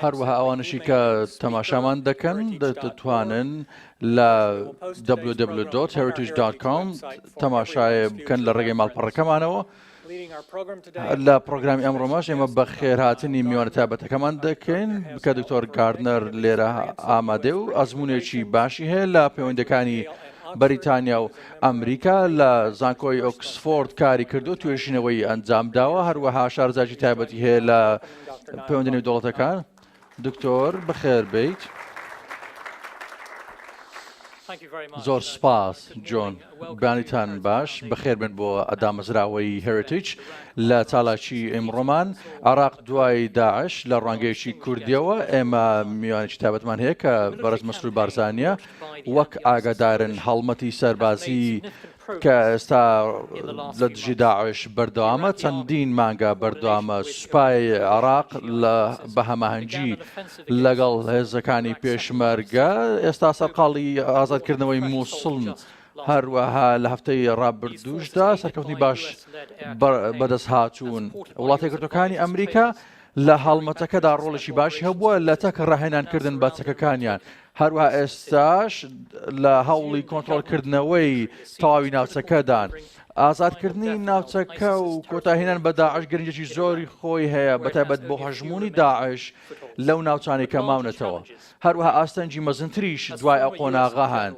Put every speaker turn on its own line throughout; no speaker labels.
هەروەها ئەوانەشی کە تەماشامان دەکەن دەتوانن لە www.heritage.com تەماشای بکەن لە ڕێگەی ماڵپەڕەکەمانەوە لە پرۆگرامی ئەمڕۆمەش ئێمە بە خێرهاتنی میوانە تابەتەکەمان دەکەین کە دکتۆر گاردنەر لێرە ئامادێ و ئەزمونێکی باشی هەیە لە پەیوەندەکانی بەریتانیا و ئەمریکا لە زانکۆی ئۆکسفۆرد کاری کردو توێژینەوەی ئەنجام داوە هەروەها شارزاجی تایبەتی هەیە لە پەیوەندی نێودەوڵەتەکان دکتۆر بەخێر بێیت. زۆر سپاس جۆن بانیتان باش بەخێربن بۆ ئەدامەزراوەی هێرتیج لە چالاکی ئمڕۆمان عراق دوای داعش لە ڕوانگەیەکی کوردیەوە ئێمە میوانێکی تابەتمان هەیە کە بەرز مەسرور بارزانە وەک ئاگادارن هەڵمەتی سەربازی کە ئێستا لە دژی داعش بەردەوامە، چەندین مانگە بەردەوامە سوپای عێراق بە هەماهەنگی لەگەڵ هێزەکانی پێشمەرگە ئێستا سەرقاڵی ئازادکردنەوەی مووسڵن. هەروەها لە هەفتەی ڕابردووشدا سەرکەوتنی باش بەدەست هاتوون وڵاتی گرتوەکانی ئەمریکا لە هەڵمەتەکەدا ڕۆڵێکی باشی هەبووە لە تەک ڕاهێنانکردن بە چەکەکانیان هەروەها ئێستاش لە هەوڵی کۆنتترۆلکردنەوەی تەواوی ناوچەکەدان. ئازادکردنی ناوچەکە و کۆتاهێنان بە داعش گرنگێکی زۆری خۆی هەیە بەتایبەت بۆ هەژمونی داعش لەو ناوچانی کە ماونەتەوە هەروها ئاستەنگی مەزنتریش دوای ئەو قۆناغا هەن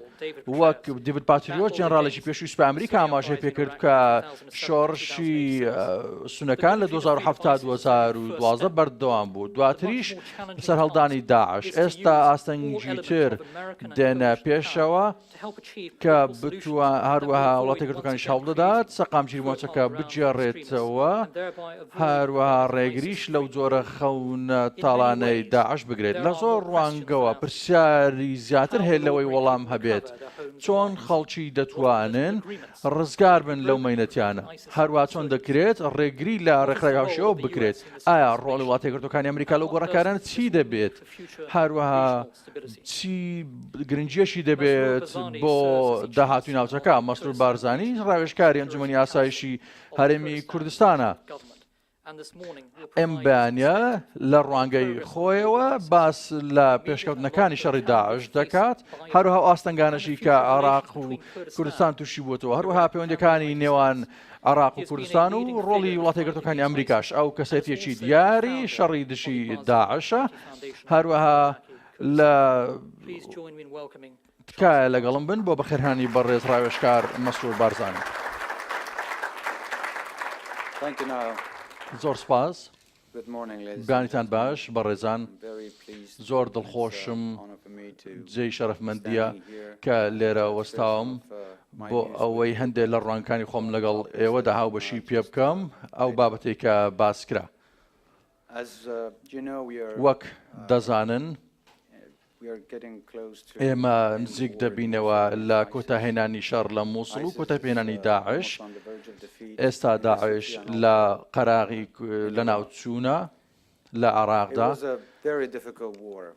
وەک دیبت پاتریۆت جنراالێکی پێشوی سوپای ئەمریکا ئاماژەی پێکرد کە شۆڕشی سونەکان لە 2010 2012 بەردەوام بوو دواتریش سەرهەڵدانی داعش ئێستا ئاستەنگیتر دێنە پێشەوە کە بتوان هەروەها وڵاتی گرتوەکانیش هەوڵدەدات سەقامگیری مۆچەکە بگێڕێتەوە هەروەها ڕێگریش لەو جۆرە خەونە تاڵانەی داعش بگرێت لە زۆر ڕوانگەوە پرسیاری زیاتر هەیە لەوەی وەڵام هەبێت چۆن خەڵکی دەتوانن ڕزگار بن لەو مەینەتیانە هەروە چۆن دەکرێت ڕێگری لە ڕێکخراوی هاوشێوە بکرێت ئایا ڕۆڵی وڵاتیەکگرتوەکانی ئەمریکا لەو گۆڕەکارانە چی دەبێت هاروەها چی گرنجیەشی دەبێت بۆ داهاتوی ناوچەکە مەسرور بارزانانی ڕاوێشکاری ئەنجومی ئاسایشی هەرێمی کوردستانە. ئەم بەیانە لە ڕوانگەی خۆیەوە باس لە پێشکەوتنەکانی شەڕی داعش دەکات هەروها ئاستەنگانەشی کە عراق و کوردستان تووشی بووەوە هەروها پەیوەندەکانی نێوان عێراق و کوردستان و ڕۆڵی وڵاتەیەکگرتووەکانی ئەمریکاش، ئەو کەسێتییەکی دیاری شەڕی دژی داعشە، هەروەها لە تکایە لەگەڵم بن بۆ بەخێرهێنانی بەڕێز ڕاوێژکار مەسرور بارزانی. زۆر سوپاس. گوتمانتان باش بەڕێزان، زۆر دڵخۆشم جێی شەرەفمەندییە کە لێرە وەستاوم بۆ ئەوەی هەندێک لە ڕوانگەکانی خۆم لەگەڵ ئێوەدا هاوبەشی پێ بکەم ئەو بابەتەی کە باس کرا. وەک دەزانن ئێمە نزیک دەبینەوە لە کۆتاهێنانی شەڕ لە مووسڵ و کۆتایپێنانی داعش، ئێستا داعش لە قەراغی لەناوچوونە لە عێراقدا.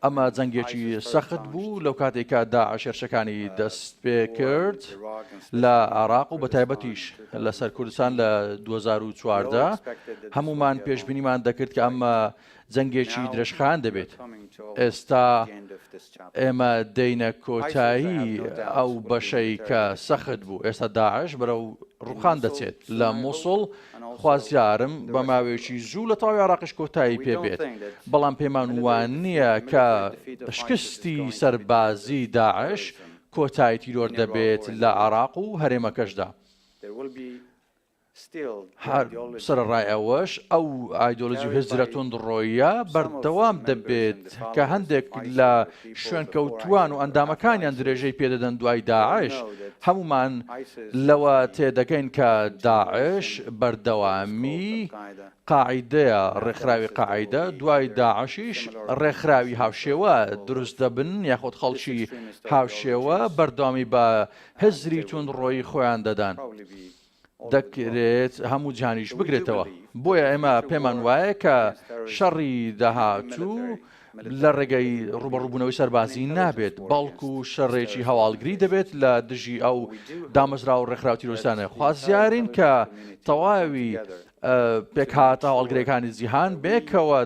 ئەمە جەنگێکی سەخت بوو لەو کاتێک کە داعش هێرشەکانی دەست پێ کرد لە عێراق و بە تایبەتیش لەسەر کوردستان لە 2014 هەموومان پێشبینیمان دەکرد کە ئەمە جەنگێکی درێژخایەن دەبێت. ئێستا ئێمە دێینە کۆتایی ئەو بەشەی کە سەخت بوو. ئێستا داعش بەرەو ڕووخان دەچێت لە موسڵ. خوازیارم بە ماوەیەکی زوو لە تەواوی عێراقیش کۆتایی پێ بێت. بەڵام پێمان وا نییە کە شکستی سەربازی داعش کۆتایی تیرۆر دەبێت لە عێراق و هەرێمەکەشدا. هەر سەرەڕای ئەوەش، ئەو ئایدۆلۆجی و هزرە توندڕۆیە بەردەوام دەبێت کە هەندێک لە شوێنکەوتووان و ئەندامەکانیان درێژەی پێدەدەن دوای داعش. هەموومان لەوە تێدەگەین کە داعش بەردەوامی قاعیدەیە، ڕێکخراوی قاعیدە دوای داعشیش ڕێکخراوی هاوشێوە دروست دەبن یاخود خەڵکی هاوشێوە بەردەوامی بە هزری توندڕۆی خۆیان دەدەن. دەکرێت هەموو جیهانیش بگرێتەوە، بۆیە ئێمە پێمان وایە کە شەڕی داهاتوو لە ڕێگەی ڕوبەڕوبوونەوەی سەربازی نابێت، بەڵکو شەڕێکی هەواڵگری دەبێت لە دژی ئەو دامەزراوە و ڕێکخراوە تیرۆریستانە، خوازیارین کە تەواوی پێکهاتە هەواڵگرەکانی جیهان بێکەوە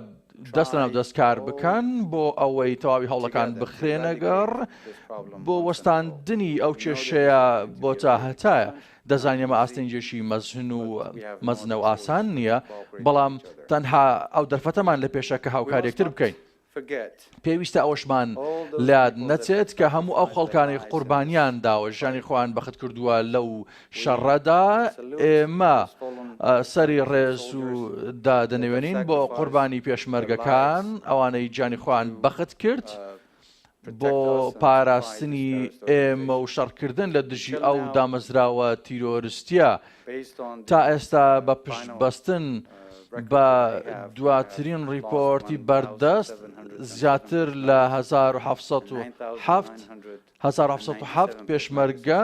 دەست لەناو دەست کار بکەن بۆ ئەوەی تەواوی هەوڵەکان بخرێنەگەڕ بۆ وەستاندنی ئەو کێشەیە بۆ تا هەتایە دەزانێمە ئاستنجێکی مەزن و مەزنە و ئاسان نییە بەڵام تەنها ئەو دەرفەتەمان لە پێشە کە هاوکارێکتر بکەین پێویستە ئەوەشمان لەیاد نەچێت کە هەموو ئەو خەڵکانەی قوربانیان داوە ژیانی خۆیان بەخت کردووە لەو شەڕەدا، ئێمە سەری ڕێز و دادەنەوێنین بۆ قوربانی پێشمەرگەکان ئەوانەی گیانی خۆیان بەخت کرد بۆ پاراستنی ئێمە و شەڕکردن لە دژی ئەو دامەزراوە تیرۆرستییە، تا ئێستا بە پشتبەستن بە دواترین ڕیپۆرتی بەردەست، زیاتر لە هەزار و حەفت سەد و حەفت پێشمەرگە،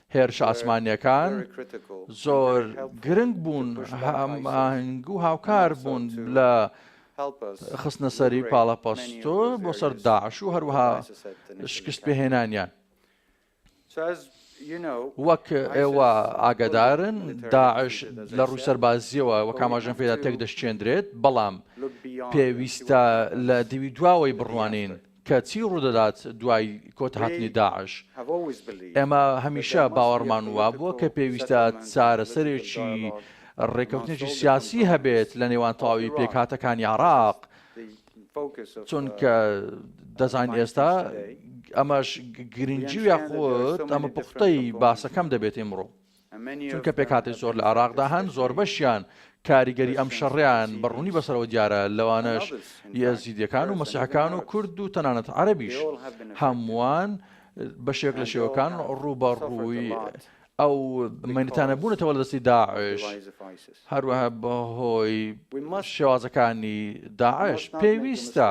هێرشە ئاسمانییەکان زۆر گرنگ بوون، هەماهەنگ و هاوکار بوون لە خستنەسەری پاڵەپەستۆ بۆ سەر داعش و هەروەها شکستپێهێنانیان. وەک ئێوە ئاگادارن داعش لە ڕووی سەربازییەوە وەک ئاماژەم پێدا تێکدەشکێندرێت، بەڵام پێویستە لە دیوی دواوەی بڕوانین، کە چی ڕوودەدات دوای کۆتهاتنی داعش؟ ئێمە هەمیشە باوەڕمان وابووە کە پێویستە چارەسەرێکی ڕێککەوتنێکی سیاسی هەبێت لە نێوان تەواوی پێکهاتەکانی عێراق، چونکە دەزانین ئێستا ئەمەش گرنگی و یاخود ئەمە پوختەی باسەکەم دەبێت ئیمڕۆ. چونکە پێکهاتەی زۆر لە عێراقدا هەن زۆربەشیان کاریگەری ئەم شەڕەیان بە ڕوونی بەسەرەوە دیارە لەوانەش یەزیدیەکان و مەسیحەکان و کورد و تەنانەت عەرەبیش هەمووان بەشێک لە شێوەکان ڕووبەڕووی ئەو مەنتانە بوونەتەوە لە دەستی داعش هەروەها بەهۆی شێوازەکانی داعش پێویستە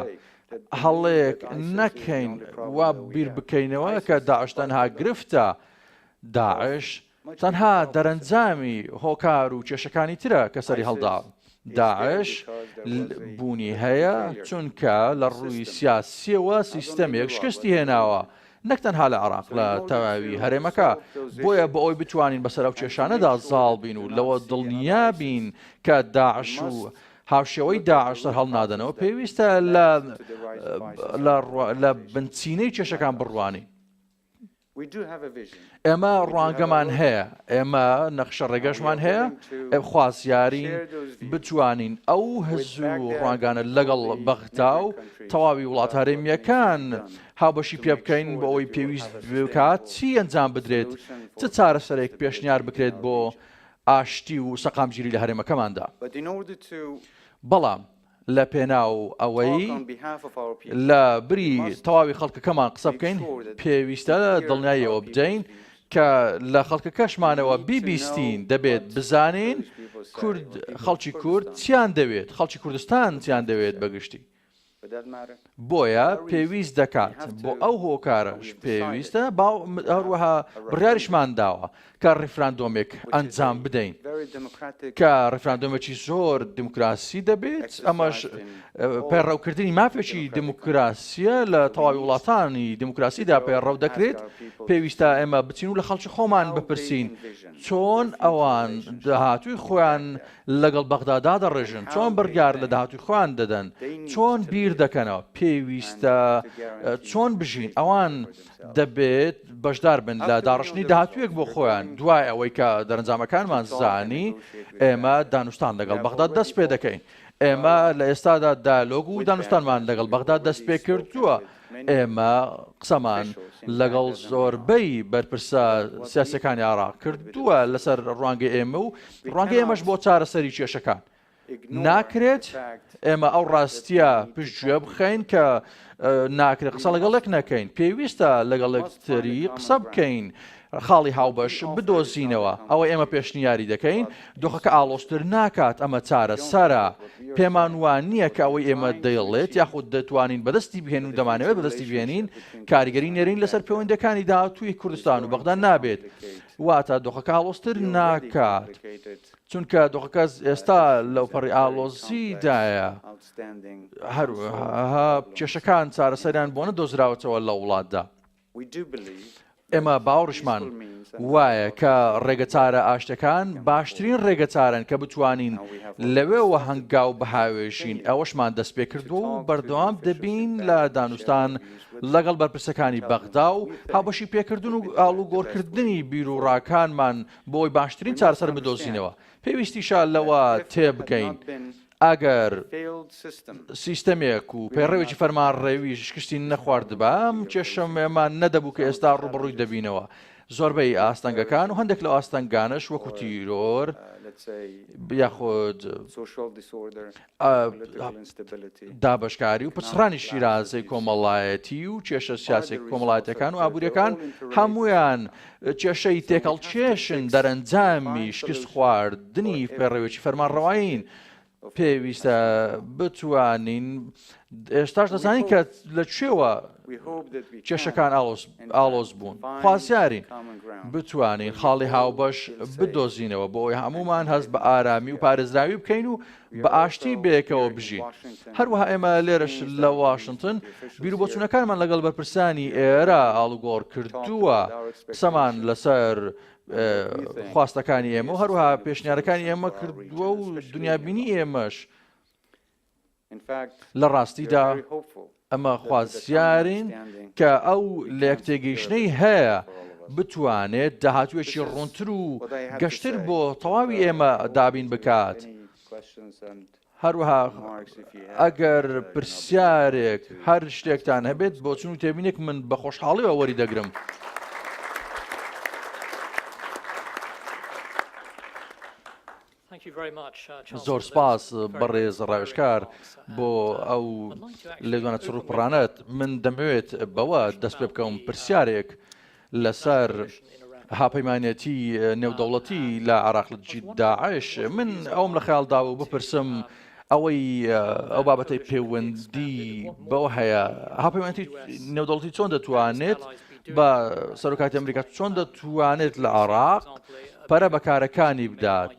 هەڵەیەک نەکەین وا بیر بکەینەوە کە داعش تەنها گرفتە داعش تەنها دەرەنجامی هۆکار و کێشەکانی ترە کە سەری هەڵدا. داعش بوونی هەیە چونکە لە ڕووی سیاسییەوە سیستەمێک شکستی هێناوە، نەک تەنها لە عێراق لە تەواوی هەرێمەکە. بۆیە بۆ ئەوەی بتوانین بەسەر ئەو کێشانەدا زاڵ بین و لەوە دڵنیا بین کە داعش و هاوشێوەی داعش سەرهەڵنادەنەوە، پێویستە لە بنچینەی کێشەکان بڕوانین. ئێمە ڕوانگەمان هەیە، ئێمە نەخشە ڕێگەشمان هەیە، خوازیارین بتوانین ئەو هەز و ڕوانگانە لەگەڵ بەغدا و تەواوی وڵات هەرێمیەکان هاوبەشی پێ بکەین بۆ ئەوەی پێویست بکات چی ئەنجام بدرێت چ چارەسەرێک پێشنیار بکرێت بۆ ئاشتی و سەقامگیری لە هەرێمەکەماندا بەڵام لە پێناو ئەوەی لە بری تەواوی خەڵکەکەمان قسە بکەین، پێویستە دڵنیای ئەوە بدەین کە لە خەڵکەکەشمانەوە بیبیستین، دەبێت بزانین کورد، خەڵکی کورد چیان دەوێت، خەڵکی کوردستان چیان دەوێت بە گشتی. بۆیە پێویست دەکات، بۆ ئەو هۆکارەش پێویستە، هەروەها بڕیاریشمان داوە کە ڕیفراندۆمێک ئەنجام بدەین کە ڕیفراندۆمێکی زۆر دیموکراسی دەبێت، ئەمەش پەیڕەوکردنی مافێکی دیموکراسیە لە تەواوی وڵاتانی دیموکراسیدا پەیڕەو دەکرێت، پێویستە ئێمە بچین و لە خەڵکی خۆمان بپرسین چۆن ئەوان داهاتووی خۆیان لەگەڵ بەغدا دادەڕێژن، چۆن بڕیار لە داهاتووی خۆیان دەدەن، چۆن بیردەکەنەوە، پێویستە چۆن بژین، ئەوان دەبێت بەشداربن لە داڕشتنی داهاتوویەک بۆ خۆیان، دوای ئەوەی کە دەرەنجامەکانمان زانی، ئێمە دانوستان لەگەڵ بەغدا دەستپێدەکەین، ئێمە لە ئێستادا دایەلۆگ و دانوستانمان لەگەڵ بەغدا دەستپێکردووە، ئێمە قسەمان لەگەڵ زۆربەی بەرپرسە سیاسیەکانی عێراق کردووە لەسەر ڕوانگەی ئێمە و ڕوانگەی ئێمەش بۆ چارەسەری کێشەکان. ناکرێت ئێمە ئەو ڕاستیە پشتگوێ بخەین کە ناکرێت قسە لەگەڵێک نەکەین پێویستە لەگەڵێکتری قسە بکەین خاڵی هاوبەش بدۆزینەوە، ئەوەی ئێمە پێشنیاری دەکەین دۆخەکە ئاڵۆزتر ناکات، ئەمە چارەسەرە، پێمان وا نییە کە ئەوەی ئێمە دەیڵێت یاخود دەتوانین بەدەستی بهێنین و دەمانەوێت بەدەستی بهێنین کاریگەری نێرین لەسەر پێوەندیەکانی داهاتووی کوردستان و بەغدا نابێت، واتە دۆخەکە ئاڵۆزتر ناکات، چونکە دۆخەکە ئێستا لەوپەڕی ئاڵۆزیدایە، هەروەها کێشەکان چارەسەریان بۆ نەدۆزراوەتەوە لە وڵاتدا. ئێمە باوەڕشمان وایە کە ڕێگەچارە ئاشتەکان باشترین ڕێگەچارن کە بتوانین لەوێوە هەنگاو بهاوێژین ئەوەشمان دەست پێ کردو و بەردەوام دەبین لە دانوستان لەگەڵ بەرپرسەکانی بەغدا و هاوبەشی پێکردن و ئاڵو گۆڕکردنی بیر و ڕاکانمان بۆی باشترین چارسەر بدۆزینەوە پێویستیشە لەوە تێبگەین ئەگەر سیستەمێک و پەیڕەوێکی فەرمانڕێویش شکستی نەخواردبا، ئەم کێشەمان نەدەبوو کە ئێستا ڕووبەڕووی دەبینەوە. زۆربەی ئاستەنگەکان و هەندێک لەو ئاستەنگانەش وەکو تیرۆر یاخود دابەشکاری و پچڕانی شیرازەی کۆمەڵایەتی و کێشە سیاسێک کۆمەڵاتەکان و ئابووریەکان هەمویان کێشەی تێکەڵ کێشن دەرەنجامی شکست خواردنی پەیڕەوێکی فەرمانڕەوایین. پێویستە بتوانین ئێستاش دەزانین کە لە کوێوە کێشەکان ئاڵۆز بوون خوازیارین بتوانین خاڵی هاوبەش بدۆزینەوە بۆ ئەوی هەمومان هەست بە ئارامی و پارێزراوی بکەین و بە ئاشتی بەیەکەوە بژین. هەروەها ئێمە لێرەش لە واشنتن بیروبۆچوونەکانمان لەگەڵ بەرپرسانی ئێرە ئاڵوگۆڕ کردووە، قسەمان لەسەر خواستەکانی ئێمە و هەروها پێشنیارەکانی ئێمە کردووە و دنیابینی ئێمەش لە ڕاستیدا ئەمە خوازیارین کە ئەو لێکتێگەیشتنەی هەیە بتوانێت داهاتوێکی ڕوونتر و گەشتر بۆ تەواوی ئێمە دابین بکات. هەروەها ئەگەر پرسیارێک هەر شتێکتان هەبێت بۆ چون و تێبینێک من بە خۆشحاڵیەوە وەری دەگرم. زۆر سپاس بەڕێز ڕاوێژکار بۆ ئەو لێدوانە چڕ و پڕانەت. من دەمەوێت بەوە دەست پێ بکەم پرسیارێک لەسەر هاپەیمانێتی نێودەوڵەتی لە عێراق لە دژی داعش. من ئەوەم لە خەیاڵ داوە و بپرسم، ئەوەی ئەو بابەتەی پەیوەندی بەوە هەیە هاپەیوەندی نێودەڵتی چۆن دەتوانێت بە سەرۆکاتی ئەمریکا چۆن دەتوانێت لە عراق پەرە بەکارەکانی بدات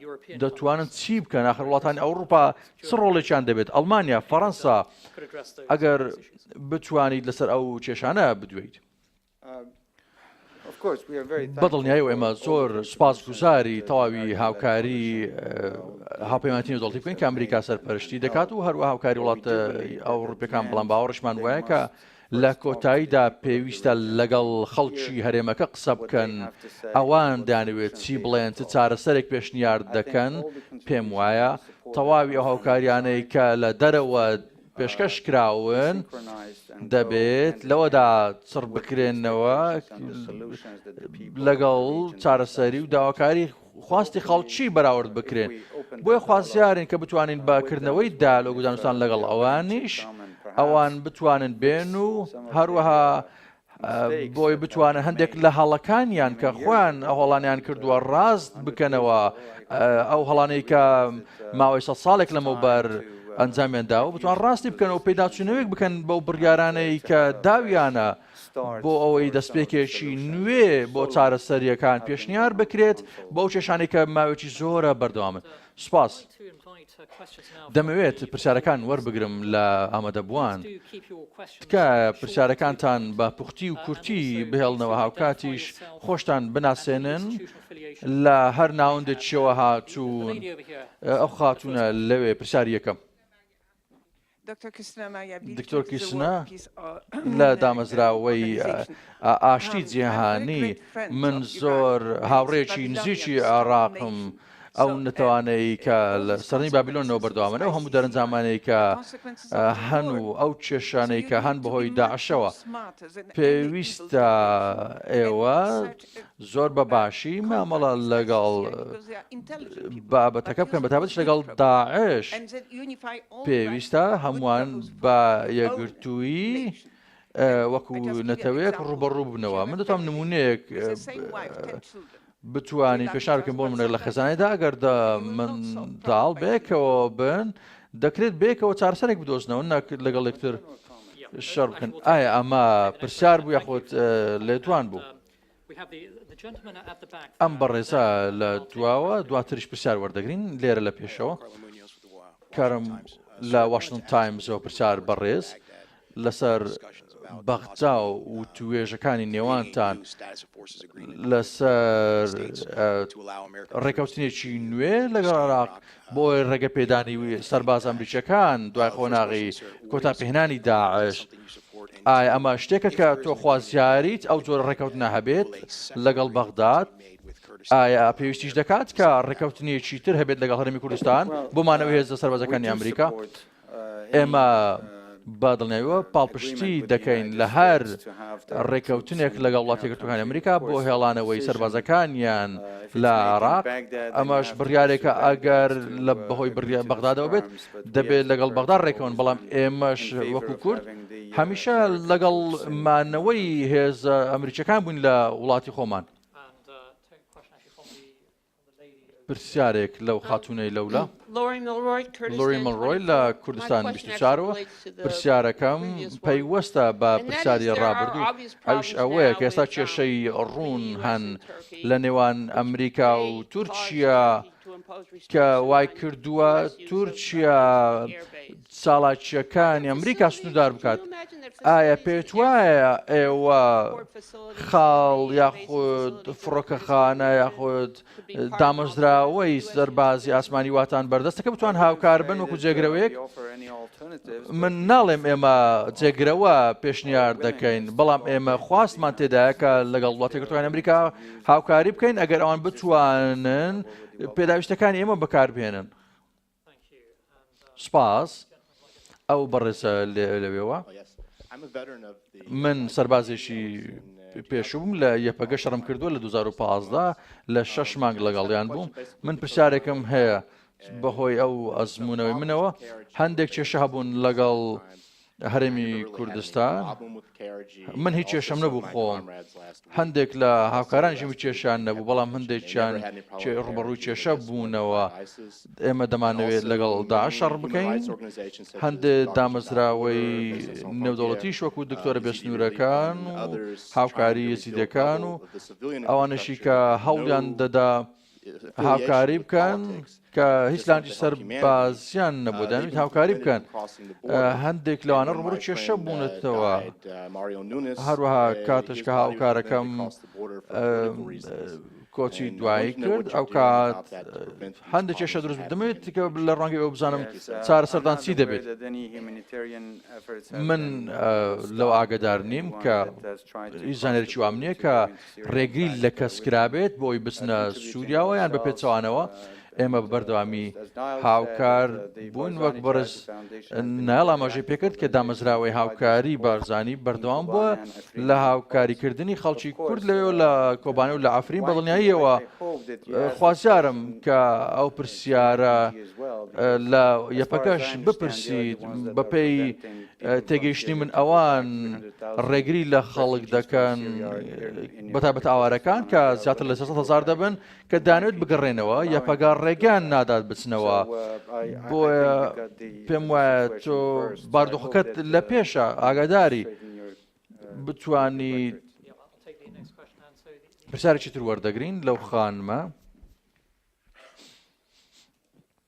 دەتوانن چی بکەن آخر وڵاتانی ئەوروپا چ ڕۆڵێکیان دەبێت ئەلمانیا فەەنسا ئەگەر بتوانیت لەسەر ئەو کێشانە بدوێیت. بە دڵنیایی و ئێمە زۆر سوپاسگوزاری تەواوی هاوکاری هاوپەیمانەتی نێودەڵتی بکەین کە ئەمریکا سەرپەرشتی دەکات و هەروە هاوکاری وڵات ئەو ڕوپەکان بڵام باوەڕشمان وایە کە لە کۆتاییدا پێویستە لەگەڵ خەڵکی هەرێمەکە قسە بکەن ئەوان دانوێت چی بڵێن چ چارەسەرێک پێشنیار دەکەن پێم وایە تەواوی ئەو هاوکاریانەی کە لە دەرەوە پێشکەشکراون، دەبێت لەوەدا چڕ بکرێنەوە لەگەڵ چارەسەری و داواکاری خواستی خەڵکی بەراورد بکرێن. بۆیە خوازیارین کە بتوانین بە کردنەوەی دالۆگ و دانوستان لەگەڵ ئەوانیش ئەوان بتوانن بێن و هەروەها بۆی بتوانن هەندێک لە هەڵەکانیان کە خۆیان هەڵانیان کردووە ڕاست بکەنەوە ئەو هەڵانەی کە ماوەی سە ساڵێک لەمەوبەر ئەنجامێندا و بتوان ڕاستی بکەنەوە پێداچوونەوەیک بکەن بەو بڕیارانەی کە داویانە بۆ ئەوەی دەستپێکێکی نوێ بۆ چارەسەریەکان پێشنیار بکرێت بەو کێشانی کە ماوێکی زۆرە بەردەوامن سپاس. دەمەوێت پرسیارەکان وەربگرم لە ئامادەبووان. تکایە پرسیارەکانتان بە پوختی و کورتی بهێڵنەوە هاوکاتیش خۆشتان بناسێنن لە هەر ناوەندێکیشەوە هاتوون. ئەو خاتوونە لەوێ پرسیاری یەکەم. دکتۆر کیسنا لە دامەزراوەی ئاشتی جیهانی، من زۆر هاوڕێیەکی نزیکی عێڕاقم، ئەو نەتەوانەی کە لە سەردەمی بابیلۆنەوە بەردەوامن، ئەو هەموو دەرەنجامانەی کە هەن و ئەو کێشانەی کە هەن بەهۆی داعشەوە، پێویستە ئێوە زۆر بە باشی مامەڵە لەگەڵ بابەتەکە بکەن بەتابەتش لەگەڵ داعش پێویستە هەمووان بە یەگرتووی وەکو نەتەوەیەک ڕوبەڕوو بنەوە من دەتوانم نمونەیەک بتانی پێشارکەم بۆ منە لە خەزانێدا ئەگەر من داڵ بێکەوە بن دەکرێت بێکەوە چارسەرێک بدۆزنەوە نەک لەگەڵ یەکتر. شەڕ بکەن ئایا ئەمە پرسیار بوو یاخۆت لێدوان بوو ئەم بەڕێزا لە دواوە دواتریش پرسیار وەردەگرین لێرە لە پێشەوە کارم لە واشنگتن تایمزەوە پرسیار بەڕێز لەسەر بەغجا و توێژەکانی نێوانتان لەسەر ڕێکەوتنێکی نوێ لەگەڵ عراق بۆیە ڕێگەپێدانی سەرباز ئەمریکیەکان دوای قۆناغی کۆتاپێهنانی داعش، ئایا ئەمە شتێکە کە تۆ خوازیاریت ئەو جۆرە ڕێکەوتنە هەبێت لەگەڵ بەغداد؟ ئایا پێویستیش دەکات کە ڕێکەوتنێکی تر هەبێت لەگەڵ هەرێمی کوردستان بۆ مانەوەی هێزە سەربازەکانی ئەمریکا؟ ئێمە بە دڵنیاییەوە پاڵپشتی دەکەین لە هەر ڕێککەوتنێک لەگەڵ وڵاتی یەکگرتووەکانی ئەمریکا بۆ هێڵانەوەی سەربازەکانیان لە عێراق، ئەمەش بڕیارێکە ئەگەر لە بەهۆی بڕیاری بەغدادەوە بێت، دەبێت لەگەڵ بەغدا ڕێککەون، بەڵام ئێمەش وەکو کورد هەمیشە لەگەڵ مانەوەی هێزە ئەمریکییەکان بووین لە وڵاتی خۆمان. پرسیارێک لەو خاتوونەی لەولا. لۆری مڵرۆی لە کوردستان بیست و چار و پرسیارەکەم پەیوەستە بە پرسیاری ڕابردوو ئەوش ئەوەیە کە ئێستا کێشەی ڕوون هەن لە نێوان ئەمریکا و تورکیا کە وای کردووە تورکیا چالاکییەکانی ئەمریکا سنووردار بکات. ئایا پێت وایە ئێوە خاڵ یاخود فڕۆکەخانە یاخود دامەزراوەی سەربازی ئاسمانی واتان بەردەستەکە بتوان هاوکار بن وەکو جێگرەوەیەک من ناڵێم ئێمە جێگرەوە پێشنیار دەکەین بەڵام ئێمە خواستمان تێدایە کە لەگەڵ وڵاتێکتوان ئەمریکا هاوکاری بکەین ئەگەر ئەوان بتوانن پێداویستەکانی ئێمە بەکاربهێنن. سپاس ئەو بەڕێزە لەوێوە. من سەربازێکی پێشووم لە یەپەگە شەڕم کردووە لە 2015 لە شەش مانگ لەگەڵیان بووم من پرسیارێکم هەیە بەهۆی ئەو ئەزمونەوەی منەوە هەندێک کێشە هەبوون لەگەڵ هەرێمی کوردستان من هیچ کێشەم نەبوو خۆم هەندێک لە هاوکارانشی و کێشان نەبوو بەڵام هەندێکیان ڕوبەڕووی کێشە بوونەوە ئێمە دەمانەوێت لەگەڵ داشەڕ بکەین هەندێ دامەزراوەی نێودەوڵەتی شوەکو دکتۆرە بێسنوورەکان هاوکاری یزیدەکان و ئەوانەشی کە هەوڵیان دەدا هاوکاری بکەن کە هیچ لانجی سەر بازیان نەبوو دەنویت هاوکاری بکەن هەندێک لەوانە ڕمڕ کێشە بوونەتەوە هەروەها کاتش کە هاوکارەکەم کۆچی دوایی کرد ئەو کات هەندێک کێشە دروست دەمێت کە لە ڕەنگی ئەو بزانم چارە سەردان چی دەبێت من لەو ئاگدار نیم کە زانێکی وام نییە کە ڕێگری لە کەس کرابێت بۆی بچنە سوریاوە یان بە پێچەوانەوە، ئێمە بە بەردەوامی هاوکار بووین وەک بەڕێز نایڵ ئاماژەی پێکرد کە دامەزراوەی هاوکاری بارزانی بەردەوام بووە لە هاوکاریکردنی خەڵکی کورد لەوێ لە کۆبانە و لە ئەفرین بەڵنیاییەوە خوازیارم کە ئەو پرسیارە لە یەپەکەش بپرسیت بەپێی تێگەیشتنی من ئەوان ڕێگری لە خەڵک دەکەن بەتابەت ئاوارەکان کە زیاتر لە هزار دەبن کە دانوێت بگەڕێنەوە یا پەگار ڕێگەیان نادات بچنەوە بۆیە پێم وایە تۆ باردۆخەکەت لە پێشە ئاگاداری بتانی پرسیارێکی تر وەردەگرین لەو خانمە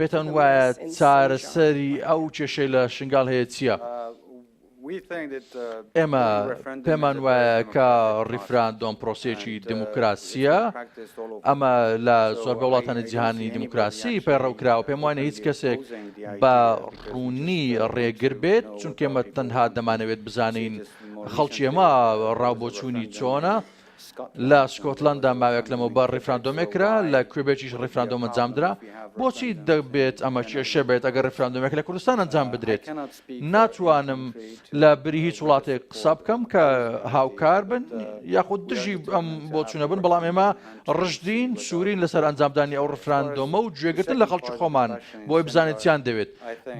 پێتان وایە چارەسەری ئەو کێشەی لە شنگال هەیە چییە؟ ئێمە پێمان وایە کە ڕیفراندۆم پرۆسێکی دموکراسیە ئەمە لە زۆربە وڵاتانی جیهانی دموکراسی پەیڕەو کراوە پێم وانە هیچ کەسێک بە ڕوونی ڕێگر بێت چونکێمە تەنها دەمانەوێت بزانین خەڵکی ئەمە ڕاو بۆچوونی چۆنە لە سکۆتلەندا ماوەیەک لەمەوبەر ڕیفراندۆمێک کرا، لە کوێبێکیش ڕیفراندۆم ئەنجامدرا، بۆچی دەبێت ئەمە کێشە بێت ئەگەر ڕیفراندۆمێک لە کوردستان ئەنجام بدرێت؟ ناتوانم لە بری هیچ وڵاتێک قسە بکەم کە هاوکار بن یاخود دژی ئەم بۆچوونە بن، بەڵام ئێمە ڕژدین، سوورین لەسەر ئەنجامدانی ئەو ڕیفراندۆمە و گوێگرتن لە خەڵکی خۆمان بۆی بزانین چیان دەوێت.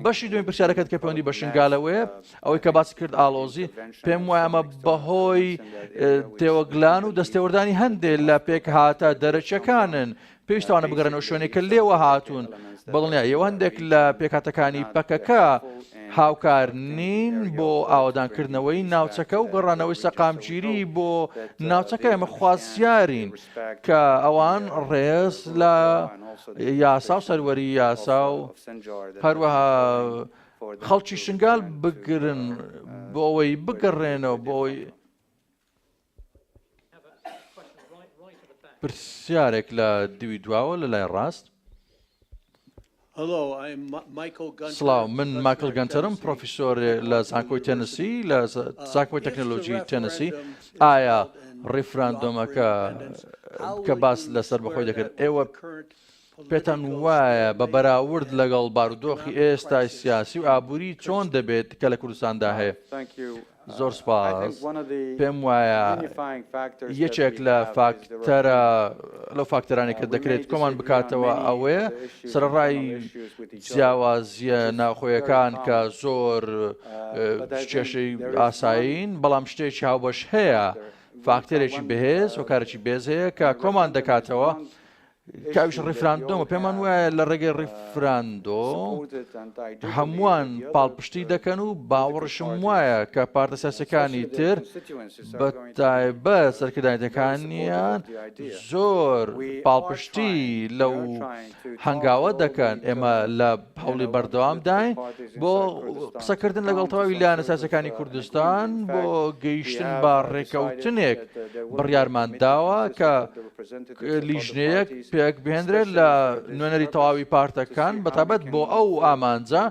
بەشی دووەمی پرسیارەکەت کە پەیوەندی بە شنگالەوەیە، ئەوەی کە باسی کرد ئاڵۆزی پێم وایە ئەمە بەهۆی تێوەگلان و دەستێوەردانی هەندێک لە پێکهاتە دەرەچەکانن پێویستوانە بگەڕێنەوە شوێنێک کە لێوە هاتوون بڵنیا ئێوە هەندێک لە پێکاتەکانی پەکەکە هاوکار نین بۆ ئاوادانکردنەوەی ناوچەکە و گەڕانەوەی سەقامگیری بۆ ناوچەکە ئێمە خوازیارین کە ئەوان ڕێز لە یاسا و سەروەری یاسا و هەروەها خەڵکی شنگال بگرن بۆ ئەوەی بگەڕێنەوە بۆ ئەوەی پرسیارێک لە دوی دواوە لە لای ڕاست سڵاو من ماکل گەنتەرم پرۆفیسۆر لە زانکۆی تەنسی لە زانکۆی تەکنەلۆژی تەنسی ئایا ڕیفراندۆمەکە کە باس لەسەر بەخۆی دەکرد ئێوە پێتان وایە بە بەراورد لەگەڵ بارودۆخی ئێستای سیاسی و ئابووری چۆن دەبێت کە لە کوردستاندا هەیە؟ زۆر سوپاس. پێم وایە یەکێک لە فاکتەرە لەو فاکتەرانی کە دەکرێت کۆمان بکاتەوە ئەوەیە سەرڕای جیاوازیە ناوخۆیەکان کە زۆر کێشەی ئاسایین بەڵام شتێکی هاوبەش هەیە فاکتەرێکی بەهێز و کارێکی بێز هەیە کە کۆمان دەکاتەوە کاویش ڕیفراندۆمە پێمان وایە لە ڕێگەی ڕیفراندۆ هەمووان پاڵپشتی دەکەن و باوەڕشم وایە کە پارتە ساسەکانی تر بە تایبە سەرکردایەتەکانیان زۆر پاڵپشتی لەو هەنگاوە دەکەن ئێمە لە هەوڵی بەردەوام داین بۆ قسەکردن لەگەڵ تەواوی لایەنە سیاسەکانی کوردستان بۆ گەیشتن بە ڕێکەوتنێک بڕیارمان داوە کە لیژنەیەک پێک بهێنرێت لە نوێنەری تەواوی پارتەکان بەتابەت بۆ ئەو ئامانجە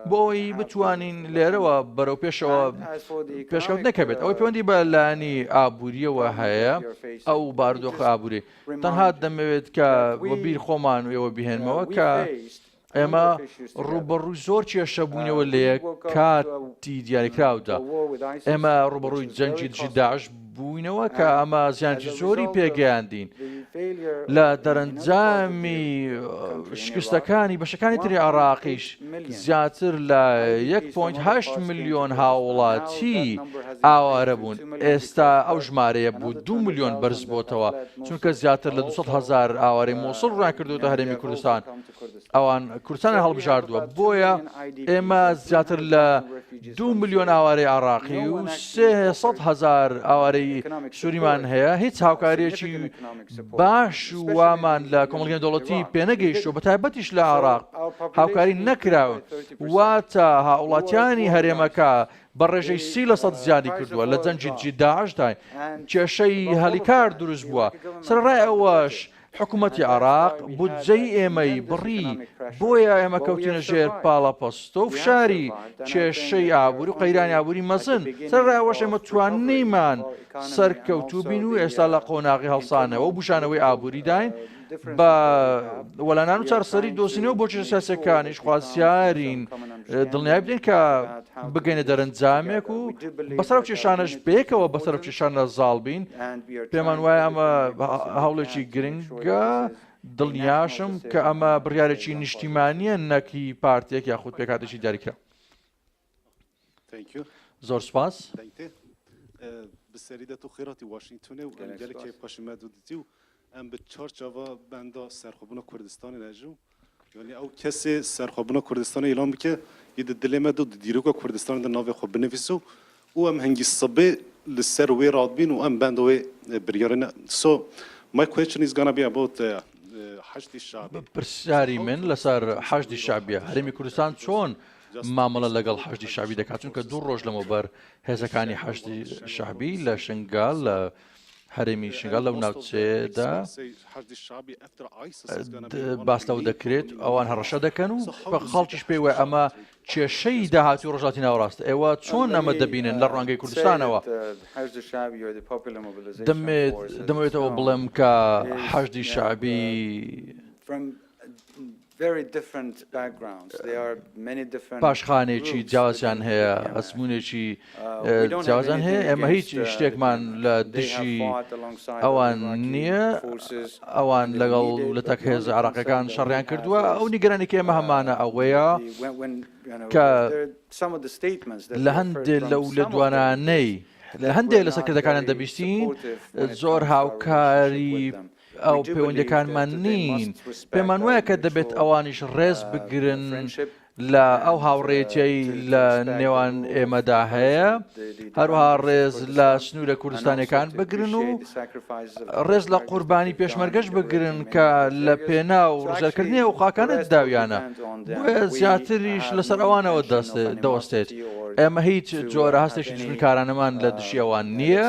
بۆ ئەوی بتوانین لێرەوە بەرەو پێشەوە پێشکەوت نەکەبێت ئەوەی پەیوەندی بە لانی ئابوووریەوە هەیە ئەو باردۆخ ئابووری تەنها دەمەوێت کە بیر خۆمان وێوە بهێنمەوە کە ئێمە ڕوبەڕووی زۆر کێشە بوونەوە لە یەک کاتی دیاریکراودا ئێمە ڕوبەڕووی جەنگی دژی داعش بووینەوە کە ئەمە زیانجی زۆری پێگەیاندین لە دەرەنجامی شکستەکانی بەشەکانی تری عراقیش زیاتر لە 1.8 میلیۆن هاوڵاتی ئاوارە بوون ئێستا ئەو ژمارەیە بوو دو میلیۆن بەرز بۆتەوە چونکە زیاتر لە 200 هزار ئاوارەی مۆسڵ ڕاکردوتە هەرێمی کوردستان ئەوان کوردستانیان هەڵبژاردووە بۆیە ئێمە زیاتر لە دو ملیۆن ئاوارەی عراقی و هزار ئاوارەی سووریمان هەیە هیچ هاوکاریەکی باش وامان لە کۆمەڵگەی دەوڵەتی پێنەگەیشتو بە تایبەتیش لە عراق هاوکاری نەکراون واتە هاوڵاتیانی هەرێمەکە بە ڕێژەی سی لە سەد زیادی کردووە لە جەنجی جیداشدای کێشەی هەلی کار دروست بووە سەرڕای ئەوەش حکومەتی عێراق بودجەی ئێمەی بڕی، بۆیە ئێمە کەوتینە ژێر پاڵەپەستۆ و فشاری کێشەی ئابووری و قەیرانی ئابووری مەزن، سەرەڕای ئەوەش ئێمە توانیمان سەرکەوتوو بین و ئێستا لە قۆناغی هەڵسانەوە و بووژانەوەی ئابووریداین، بە وەلانان و چارەسەری دۆزینەوە بۆ کێشە سیاسییەکانیش خوازیارین. دڵنیای بدەین کە بگەینە دەرەنجامێک و بە سەرو کێشانەش پێکەوە بە سەرو کێشانە زاڵ بین پێمان وایە ئەمە هەوڵێکی گرنگە دڵنیاشم کە ئەمە بڕارێکی نیشتیمانیە نەکی پارتێک یاخود پێکاتێکی دەریکرا زۆر سپاس بسەریدە
تو خێراتی واشنگتونێ و گەلکێ پەشمە دوتی و ئەم بە چوار چاڤە بەندا سەرخۆ بوونە کوردستانێ نەژوو، یانی ئەو کەسێ سەرخۆ بوونە کوردستانێ ئیلان بکە، ئی دە دلێ مە دو دە دیرۆکە کوردستانێ دە ناوێ خۆ بنڤیس و ئوو ئەم هەنگی سبێ لە سەر وێ راد بین و ئەم بەندا وێ بریارێ نە سۆ مای کوێچن ئیز گانا بی ئەباوت حەشدی
شەعبی.
پرسیاری
من لە سەر حەشدی شەعبیە، هەرێمی کوردستان چۆن مامەڵە لە گەڵ حەشدی شەعبی دەکا، چونکە دو رۆژ لەمەو بەر هێزەکانی حەشدی شەعبی لە شنگال لە هەرێمی شنگال لەو ناوچەیەدا باس لەوە دەکرێت ئەوان هەڕەشە دەکەن و خەڵکیش پێی وای ئەمە کێشەی داهاتی ڕژاتی ناوڕاستە ئێوە چۆن ئەمە دەبینن لە ڕوانگەی کوردستانەوە دەمێتەوە بڵێم کە حەشدی شعبی پاشخانێکی جیاوازیان هەیە، ئەزموونێکی جیاوازیان هەیە، ئێمە هیچ شتێکمان لە دژی ئەوان نییە، ئەوان لەگەڵ لە تەک هێزە عێراقیەکان شەڕیان کردووە، ئەو نیگەرانی کە ئێمە هەمانە ئەوەیە کە لە هەندێ لەو لە دوانانەی لە هەندێک لە سەرکردەکانیان دەبیستین زۆر هاوکاری ئەو پەیوەندیەکانمان نین پێمان وایە کە دەبێت ئەوانیش ڕێز بگرن لە ئەو هاوڕێتیایی لە نێوان ئێمەدا هەیە هەروها ڕێز لە سنوورە کوردستانەکان بگرن و ڕێز لە قوربانی پێشمەرگەش بگرن کە لە پێنا و ڕژەکردنی و قاکانە داویانە زیاتریش لەسەر ئەوانەوە دەست دەوەستێت ئێمە هیچ جۆرە هەستێکی دژمنکارانەمان لە دژی ئەوان نییە،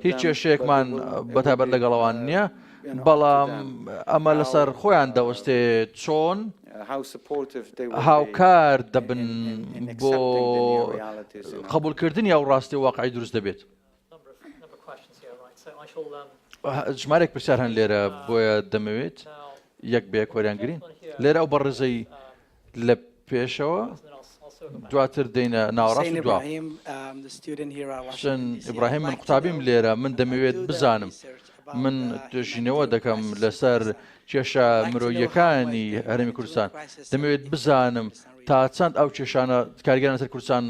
هیچ کێشەیەکمان بە تایبەت لەگەڵ ئەوان نییە، بەڵام ئەمە لەسەر خۆیان دەوەستێ چۆن هاوکار دەبن بۆ قبولکردنی ئەو ڕاستی واقعی دروست دەبێت. ژمارێک پرسیار هەن لێرە بۆیە دەمەوێت یەک بە یەک وەریان گرین لێرە ئەو بەڕێزەی لە پێشەوە دواتر دێنە ناوەڕاستی دوا حسێن ئیبراهیم من قوتابیم لێرە من دەمەوێت بزانم من توێژینەوە دەکەم لەسەر کێشە مرۆییەکانی هەرمی کوردستان دەمەوێت بزانم تا چەند ئەو کێشانە کارگەران سەر کوردستان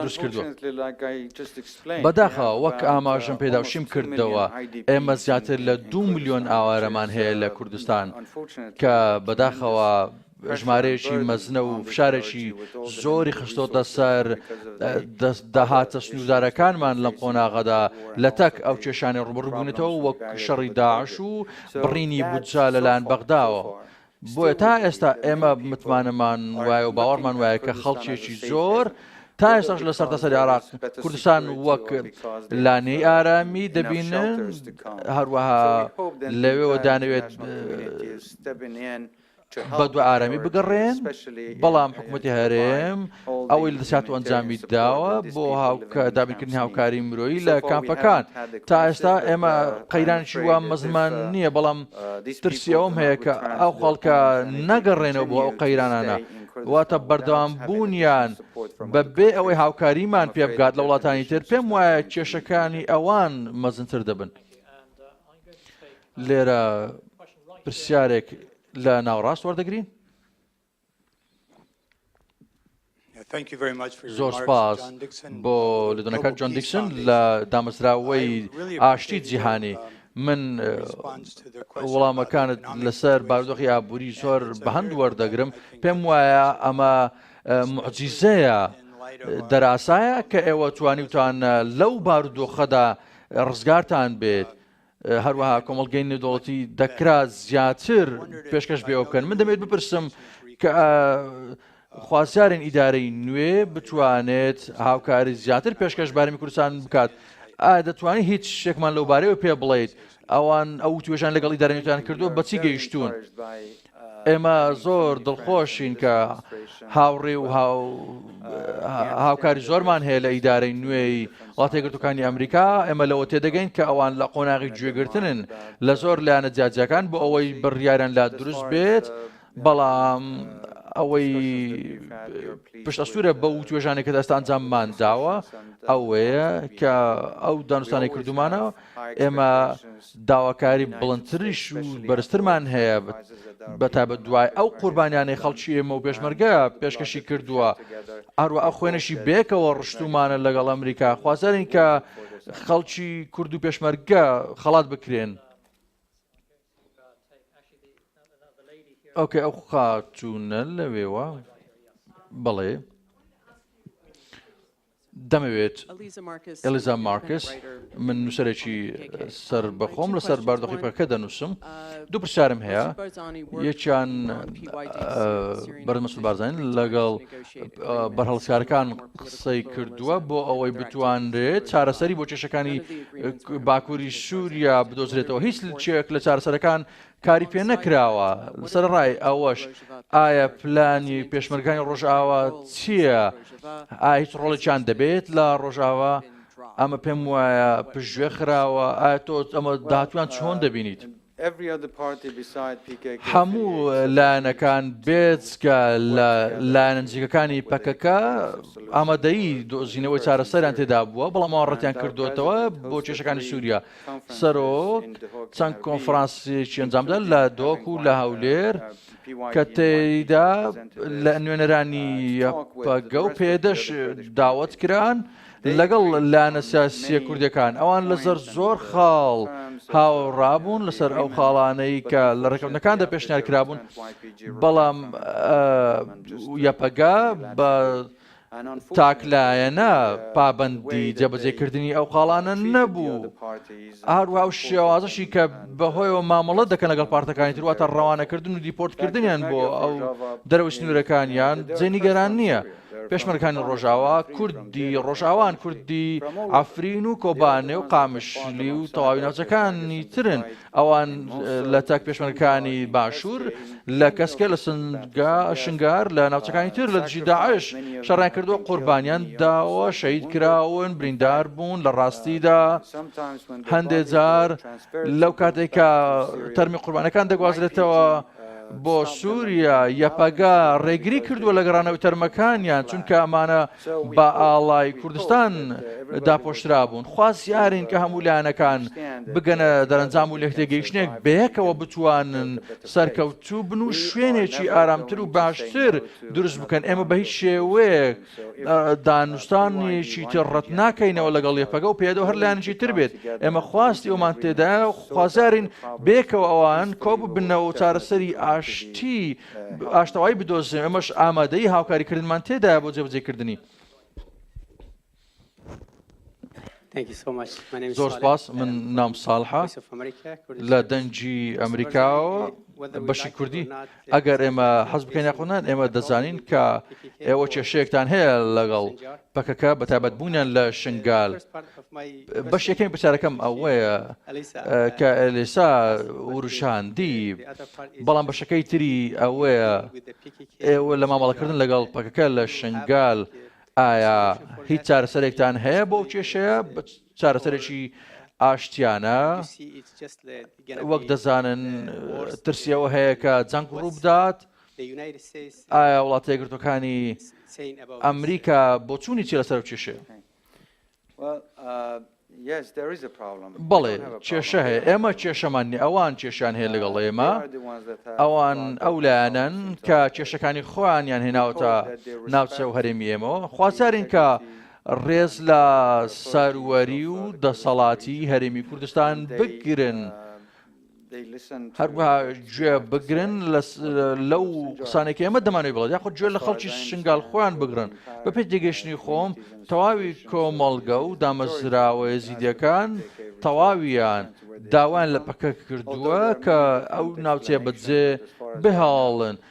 دروست کردووە بەداخە وەک ئاماژم پێداوشیم کردەوە ئێمە زیاتر لە دو میلیۆن ئاوارەمان هەیە لە کوردستان کە بەداخەوە ژمارەیەکی مەزنە و فشارێکی زۆری خستۆتە سەر داهاتە سنووردارەکانمان لەم قۆناغەدا، لەتەک ئەو کێشانەی ڕووبەڕوو بوونەتەوە وەک شەڕی داعش و بڕینی بودجە لەلایەن بەغداوە، بۆیە تا ئێستا ئێمە متمانەمان وایە و باوەڕمان وایە کە خەڵکێکی زۆر تا ئێستاش لە سەرتاسەری عێراق کوردستان وەک لانەی ئارامی دەبینن، هەروەها لەوێوە دانەوێت. بە دووارەمی بگەڕێن، بەڵام حکومەتی هەرێم ئەوەی لەدەستهات و ئەنجامی داوە بۆ دابینکردنی هاوکاری مرۆیی لە کامپەکان. تا ئێستا ئێمە قەیرانێکی وا مەزنمان نییە، بەڵام ترسی ئەوەم هەیە کە ئەو خەڵکە نەگەڕێنەوە بۆ ئەو قەیرانانە، واتە بەردەوامبوونیان بەبێ ئەوەی هاوکاریمان پێبگات لە وڵاتانی تر، پێم وایە کێشەکانی ئەوان مەزنتر دەبن. لێرە پرسیارێک لە ناوەڕاست وەردەگرین. زۆر سپاس بۆ لێدوانەکە جۆن دیکسن لە دامەزراوەی ئاشتی جیهانی. من وەڵامەکانت لەسەر بارودۆخی ئابووری زۆر بەهەند وەردەگرم پێم وایە ئەمە معجیزەیە دەراسایە کە ئێوە توانیوتان لەو بارودۆخەدا ڕزگارتان بێت هەروەها کۆمەڵگەی نێودەوڵەتی دەکرا زیاتر پێشکەش بێەوە بکەن من دەمێت بپرسم کە خوازیارن ئیدارەی نوێ بتوانێت هاوکاری زیاتر پێشکەش بارمی کوردستان بکات دەتوانانی هیچ شتێکمان لەو بارەوە پێ بڵیت ئەوان ئەو توێژان لەگەڵی دەرەنیتان کردو بەچی گەیشتون ئێمە زۆر دڵخۆشین کە هاوڕێ و هاوکاری زۆرمان هەیە لە ئیدارەی نوێی وڵاتێگرتوەکانی ئەمریکا ئێمە لەوە تێدەگەین کە ئەوان لە قۆناغی گوێگرتنن لە زۆر لایەنە جیاجیەکان بۆ ئەوەی بڕیارن لا دروست بێت بەڵام ئەوەی پشت ئەسوورە بە و توێژانێک کە دەستان جاممان داوە ئەوەیە کە ئەو دانوستانی کردومانە ئێمە داواکاری بڵندتریش و بەرزترمان هەیە، بە تایبەت دوای ئەو قوربانیانەی خەڵکی ئێمە و پێشمەرگە پێشکەشی کردووە، هەروەها خوێنێکی بەیەکەوە ڕشتوومانە لەگەڵ ئەمریکا، خوازیارین کە خەڵکی کورد و پێشمەرگە خەڵات بکرێن. دەمەوێت ئێلیزا مارکس، من نووسەرێکی سەربەخۆم لەسەر باردۆخی پەکەکە دەنووسم، دوو پرسیارم هەیە، یەکیان بەرز مەسود بارزانی لەگەڵ بەرهەڵستکارەکان قسەی کردووە بۆ ئەوەی بتوانرێت چارەسەری بۆ کێشەکانی باکووری سووریا بدۆزرێتەوە هیچ چێک لە چارەسەرەکان کاری پێ نەکراوە، سەرەڕای ئەوەش ئایا پلانی پێشمەرگانی ڕۆژئاوا چییە؟ ئایا هیچ ڕۆڵێکیان دەبێت لە ڕۆژاوا؟ ئەمە پێم وایە پشتگوێ خراوە، ئایا تۆ ئەمە داهاتوان چۆن دەبینیت؟ هەموو لایەنەکان بێجگە لە لایەنە نزیکەکانی پەکەکە ئامادەیی دۆزینەوەی چارەسەریان تێدا بووە، بەڵام ئەوان ڕەتیان کردووەتەوە بۆ کێشەکانی سووریا. سەرۆک چەند کۆنفرانسێکی ئەنجامدا لە دۆک و لە هەولێر کە تێیدا لە نوێنەرانی یەپەگە و پێدەش داوت کران لەگەڵ لایەنە سیاسیە کوردەکان ئەوان لەسەر زۆر خاڵ هاوڕابوون لەسەر ئەو خاڵانەی کە لە ڕێکەوتنەکاندا پێشنیار کرابوون بەڵام یەپەگا بە تاک لایەنە پابەندی جێبەجێکردنی ئەو خاڵانە نەبوو، هەروەها ئەو شێوازەشی کە بەهۆیەوە مامەڵە دەکەن لەگەڵ پارتەکانی تر واتە ڕەوانەکردن و دیپۆرتکردنیان بۆ ئەو دەرەوەی سنوورەکانیان جێ نیگەران نییە. پێشمەرگەکانی ڕۆژاوا کوردی ڕۆژاوان کوردی عەفرین و کۆبانێ و قامشلی و تەواوی ناوچەکانی ترن ئەوان لە تەک پێشمەرگەکانی باشوور، لە کەسکێ، لە شنگار، لە ناوچەکانی تر لە دژی داعش شەڕیان کردووە، قوربانیان داوە، شەهید کراون، بریندار بوون، لە ڕاستیدا هەندێ جار لەو کاتێکا تەرمی قوربانیەکان دەگوازرێتەوە، بۆ سوریا، یەپەگە، ڕێگری کردووە لە گەڕانەوەی تەرمەکانیان، چونکە ئەمانە بە ئاڵای کوردستان داپۆشرابوون. خوازیارین کە هەموو لایەنەکان بگەنە دەرەنجام و لێکتێگەیشتنێک بەیەکەوە بتوانن سەرکەوتوو بن و شوێنێکی ئارامتر و باشتر دروست بکەن، ئێمە بە هیچ شێوەیەک دانوستانێکی تر ڕەت ناکەینەوە لەگەڵ یەپەگە و پێدە هەر لایەنێکی تر بێت ئێمە خواستی ئەومان تێدایە و خوازیارین بێکەوە ئەوان کۆب بنەوە و چارەسەری ئاشتی ئاشتەوای بدۆزێ ئەمەش ئامادەی هاوکاریکردنمان تێدایە بۆ جێبجێکردنی. زۆر سپاس من نام ساڵحە لە دەنگی ئەمریکاەوە بەشی کوردی ئەگەر ئێمە حەز بکەین یاخۆنان ئێمە دەزانین کە ئێوە کێشەیەکتان هەیە لەگەڵ پەکەکە بە تابەت بوونیان لە شنگال بەش یەکەم پرسیارەکەم ئەوەیە کە ئەلیسا وروشاندی بەڵام بەشەکەی تری ئەوەیە ئێوە لە مامەڵەکردن لەگەڵ پەکەکە لە شنگال ئایا هیچ چارەسەرێکتان هەیە بۆ ئەو کێشەیە چارەسەرێکی ئاشتیانە وەک دەزانن ترسیەوە هەیە کە جەنگ ڕووبدات ئایا وڵاتە یەکردەکانی ئەمریکا بۆچوونی چی لەسەر کێشێ بەڵێ کێشە هەیە ئێمە کێشەمان نیە ئەوان کێشان هەیە لەگەڵ ئێمە ئەوان ئەو لایەنەن کە کێشەکانی خۆیانیان هێناوەتە ناوچە و هەرێمی ئێمەوە خوازارین کە ڕێز لە سەروەری و دەسەڵاتی هەرێمی کوردستان بگرن. هەروەها گوێ بگرن لەو قسانێک ئێمە دەمانێت بڵێت یاخود گوێ لە خەڵکی شنگال خۆیان بگرن بە پێ تێگەشتنی خۆم تەواوی کۆمەڵگە و دامەزراوە ێزیدەکان تەواویان داوایان لە پەکەک کردووە کە ئەو ناوچەیە بەجێ بهاڵن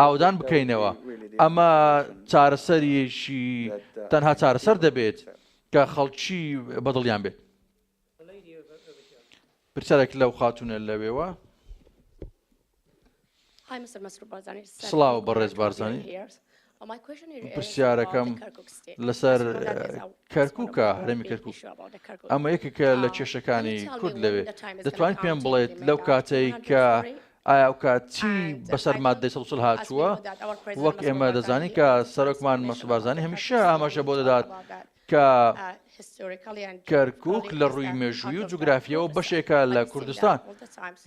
ئاوەدان بکەینەوە، ئەمە چارەسەرێکی تەنها چارەسەر دەبێت کە خەڵکی بەدڵیان بێت. پرسیارێک لەو خاتونە لەوێوە. سڵاو بەڕێز بارزانی پرسیارەکەم لەسەر کەرکووکە هەرمی کەرکوو ئەمە یەکێکە لە کێشەکانی کورد لەوێ دەتوانین پێم بڵێت لەو کاتەی کە ئایا ئەو کات چی بەسەر مادەی سەد و چل هاتووە وەک ئێمە دەزانین کە سەرۆکمان مەسعود بارزانی هەمیشە ئاماژە بۆ دەدات کە کەرکک لە ڕووی مێژووی و جوگرافیەوە بەشێکە لە کوردستان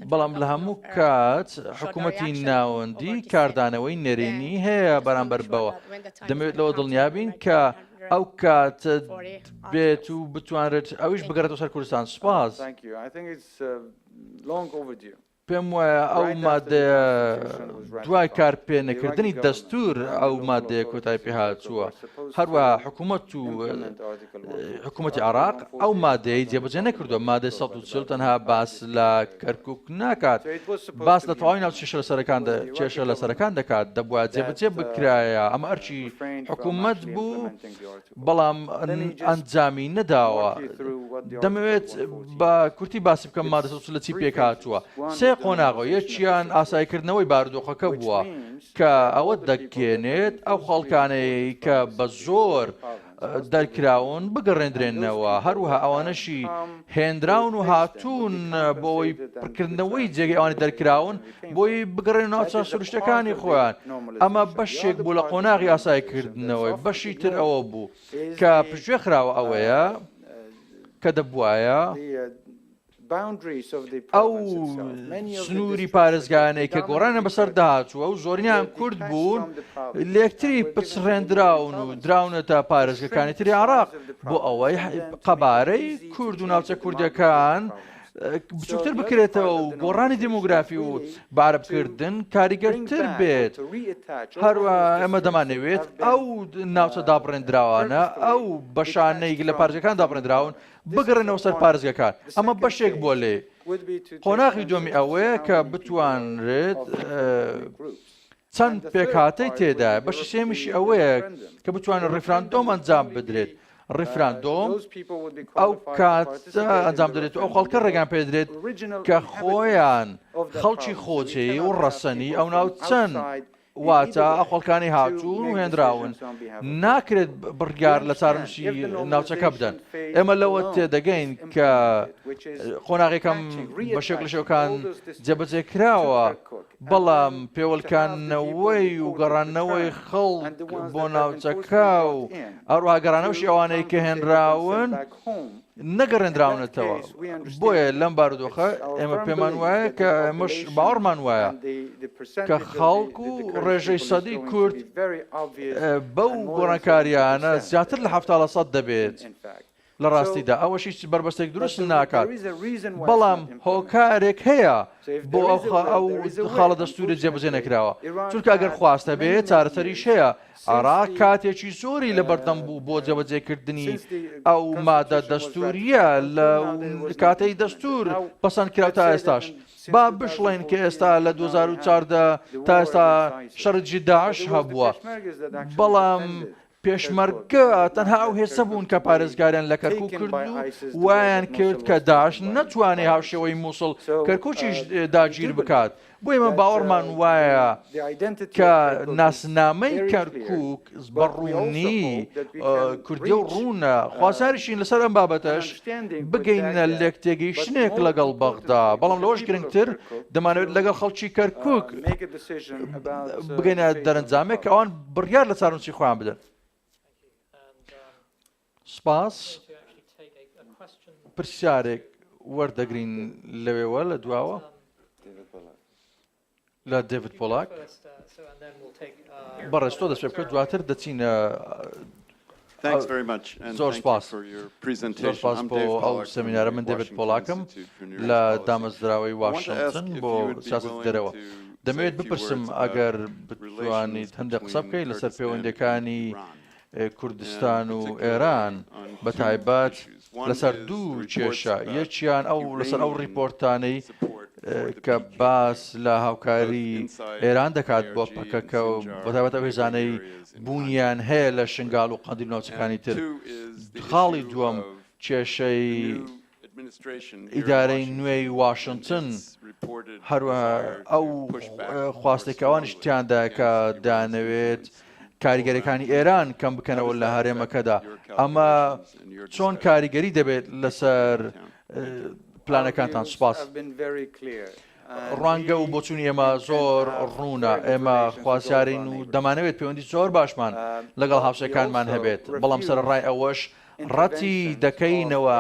بەڵام لە هەموو کات حکوومەتی ناوەندی کاردانەوەی نەرێنی هەیە بەرامبەر بەوە دەمەوێت لەوە دڵنیابین کە ئەو کات بێت و بتوانرێت ئەویش بگەڕێتەوە سەر کوردستان سپاس. پێم وایە ئەو مادەیە دوای کارپێنەکردنی دەستور ئەو مادەیە کۆتای پێهاتووە هەروە حکوومەت و حکوومەتی عراق ئەو مادەی جێبجێ نەکردو مادە 140 تەنها باس لە کەرکک ناکات باس لە تەواوی ناو چێشە لەسەرەکان کێشە لەسەرەکان دەکات دەبووە جێبجێ بکرایە ئەمە ئەرچی حکوومەت بوو بەڵام ئەنجامی نەداوە. دەمەوێت بە کورتی باسی بکەم مادە سەد و چل لە چی پێکهاتووە. سێ قۆناغە، یەکیان ئاساییکردنەوەی بارودۆخەکە بووە، کە ئەوە دەگەێنێت ئەو خەڵکانەی کە بە زۆر دەرکراون بگەڕێندرێنەوە، هەروەها ئەوانەشی هێنراون و هاتوون بۆ ئەوەی پڕکردنەوەی جێگەی ئەوانی دەرکراون، بۆی بگەڕێنە ناو چا سروشتەکانی خۆیان ئەمە بەشێک بوو لە قۆناغی ئاسای کردنەوەی بەشی تر ئەوە بوو کە پشتێ خراوە ئەوەیە کە دەبواە ئەو سنووری پارێزگانەی کە گۆڕانە بەسەر داچووە و زۆرینیان کورد بوون لەکتری پچڕێنراون و دراونەتە پارێزگەکانی تری عراق بۆ ئەوەی قەبارەی کورد و ناوچە کوردەکان بچووکتر بکرێتەوە و گۆڕانی دیموگرافی و باربکردن کاریگەرتر بێت هەروە ئەمە دەمانەوێت ئەو ناوچە دابڕێنراوانە ئەو بەشانەی لە پارجەکان دابڕێنراون بگەڕێنەوە سەر پارێزگەکان ئەمە بەشێک بۆ لێ قۆناغی دومی ئەوەیە کە بتوانرێت چەند پێکهاتەی تێدایە، بەشی سێیەمیشی ئەوەیە کە بتوانێت ڕیفراندۆم ئەنجام بدرێت. ڕیفراندۆم ئەو کات ئەنجام دەێت ئەو خەڵکە ڕێگان پێدرێت کە خۆیان خەڵکی خۆجێی و ڕەسەنی ئەو ناو چەند واتە ئەخۆڵکانی هاتوون و هێنراون ناکرێت بڕگار لە چارمشی ناوچەکە بدەن ئێمە لەوە تێدەگەین کە قۆناغێکم بە شێک لە شەکان جێبەجێ کراوە بەڵام پێوەلکاندنەوەی و گەڕانەوەی خەڵک بۆ ناوچەکە و ئەروها گەڕانەوەشی ئەوانەی کە هێنراون نەگەڕێنراونەتەوە بۆیە لەم بارودۆخە ئێمە پێمان وایە کە ئەمەش باوەڕمان وایە کە خەڵک و ڕێژەی سەدی کورد بەو گۆڕانکاریانە زیاتر لە هەفتاڵە سەد دەبێت لە ڕاستیدا ئەوەش هیچ بەربەستێک دروست ناکات، بەڵام هۆکارێک هەیە بۆ ئەو خاڵە دەستوورە جێبەجێ نەکراوە، چونکە ئەگەر خواست هەبێت چارەسەریش هەیە، عێراق کاتێکی زۆری لەبەردەم بوو بۆ جێبەجێکردنی ئەو مادە دەستووریە لە کاتەی دەستوور پەسەند کرا تا ئێستاش با بشڵێن کە ئێستا لە 2014 تا ئێستا شەڕجی داعش هەبووە بەڵام پێشمەرگە تەنها ئەو هێزە بوون کە پارێزگاریان لە کەرکوک کرد و وایان کرد کە داعش نەتوانێ هاوشێوەی مووسڵ کەرکوچیش داگیر بکات بۆ ئێمە باوەڕمان وایە کە ناسنامەی کەرکوک بە ڕوونی کوردی و ڕوونە خوازاریشین لەسەر ئەم بابەتەش بگەینە لێک تێگەیشتنێک لەگەڵ بەغدا بەڵام لەوەش گرنگتر دەمانوێت لەگەڵ خەڵکی کەرکوک بگەینە دەرەنجامێک ئەوان بڕیار لە چارنووسی خۆیان بدەن سپاس پرسیارێک وەردەگرین لەوێوە لە دواوە لە دەڤت پۆلاک بەڕێستۆ دەست پێ بکە دواتر دەچینە زۆر سوپاس زۆر سوپاس بۆ ئەو سمینارە من دەبێت پۆڵاکم لە دامەزراوەی واشنتن بۆ سیاست دەرەوە دەمەوێت بپرسم ئەگەر بتوانیت هەندە قسە بکەیت لەسەر پەیوەندەکانی کوردستان و ئێران بە تایبەت لەسەر دوو کێشە، یەکیان ئەو لەسەر ئەو ڕیپۆرتانەی کە باس لە هاوکاریی ئێران دەکات بۆ پەکەکە و بەتایبەت ئەو هێزانەی بوونیان هەیە لە شنگال و قەندیل و ناوچەکانی تر. خاڵی دووەم کێشەی ئیدارەی نوێی واشنتن، هەروەها ئەو خواستەی کە ئەوانیش تیاندایە کە دەیانەوێت کاریگەریەکانی ئێران کەم بکەنەوە لە هەرێمەکەدا، ئەمە چۆن کاریگەری دەبێت لەسەر پلانەکانتان؟ سوپاس. ڕوانگە و بۆچوونی ئێمە زۆر ڕوونە، ئێمە خوازیارین و دەمانەوێت پەیوەندی زۆر باشمان لەگەڵ هاوسێکانمان هەبێت، بەڵام سەرەڕای ئەوەش ڕەتی دەکەینەوە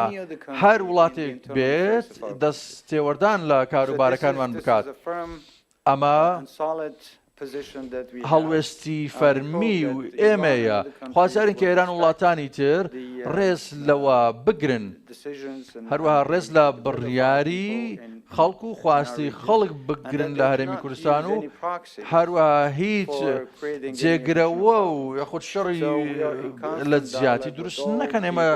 هەر وڵاتێک بێت دەست تێوەردان لە کاروبارەکانمان بکات. ئەمە هەڵوێستی فەرمی و ئێمەیە، خوازیارین کە ئێران و وڵاتانی تر ڕێز لەوە بگرن، هەروەها ڕێز لە بڕیاری خەڵک و خواستی خەڵک بگرن لە هەرێمی کوردستان و هەروەها هیچ جێگرەوە و یاخود شەڕی لە جیاتی دروست نەکەن ئێمە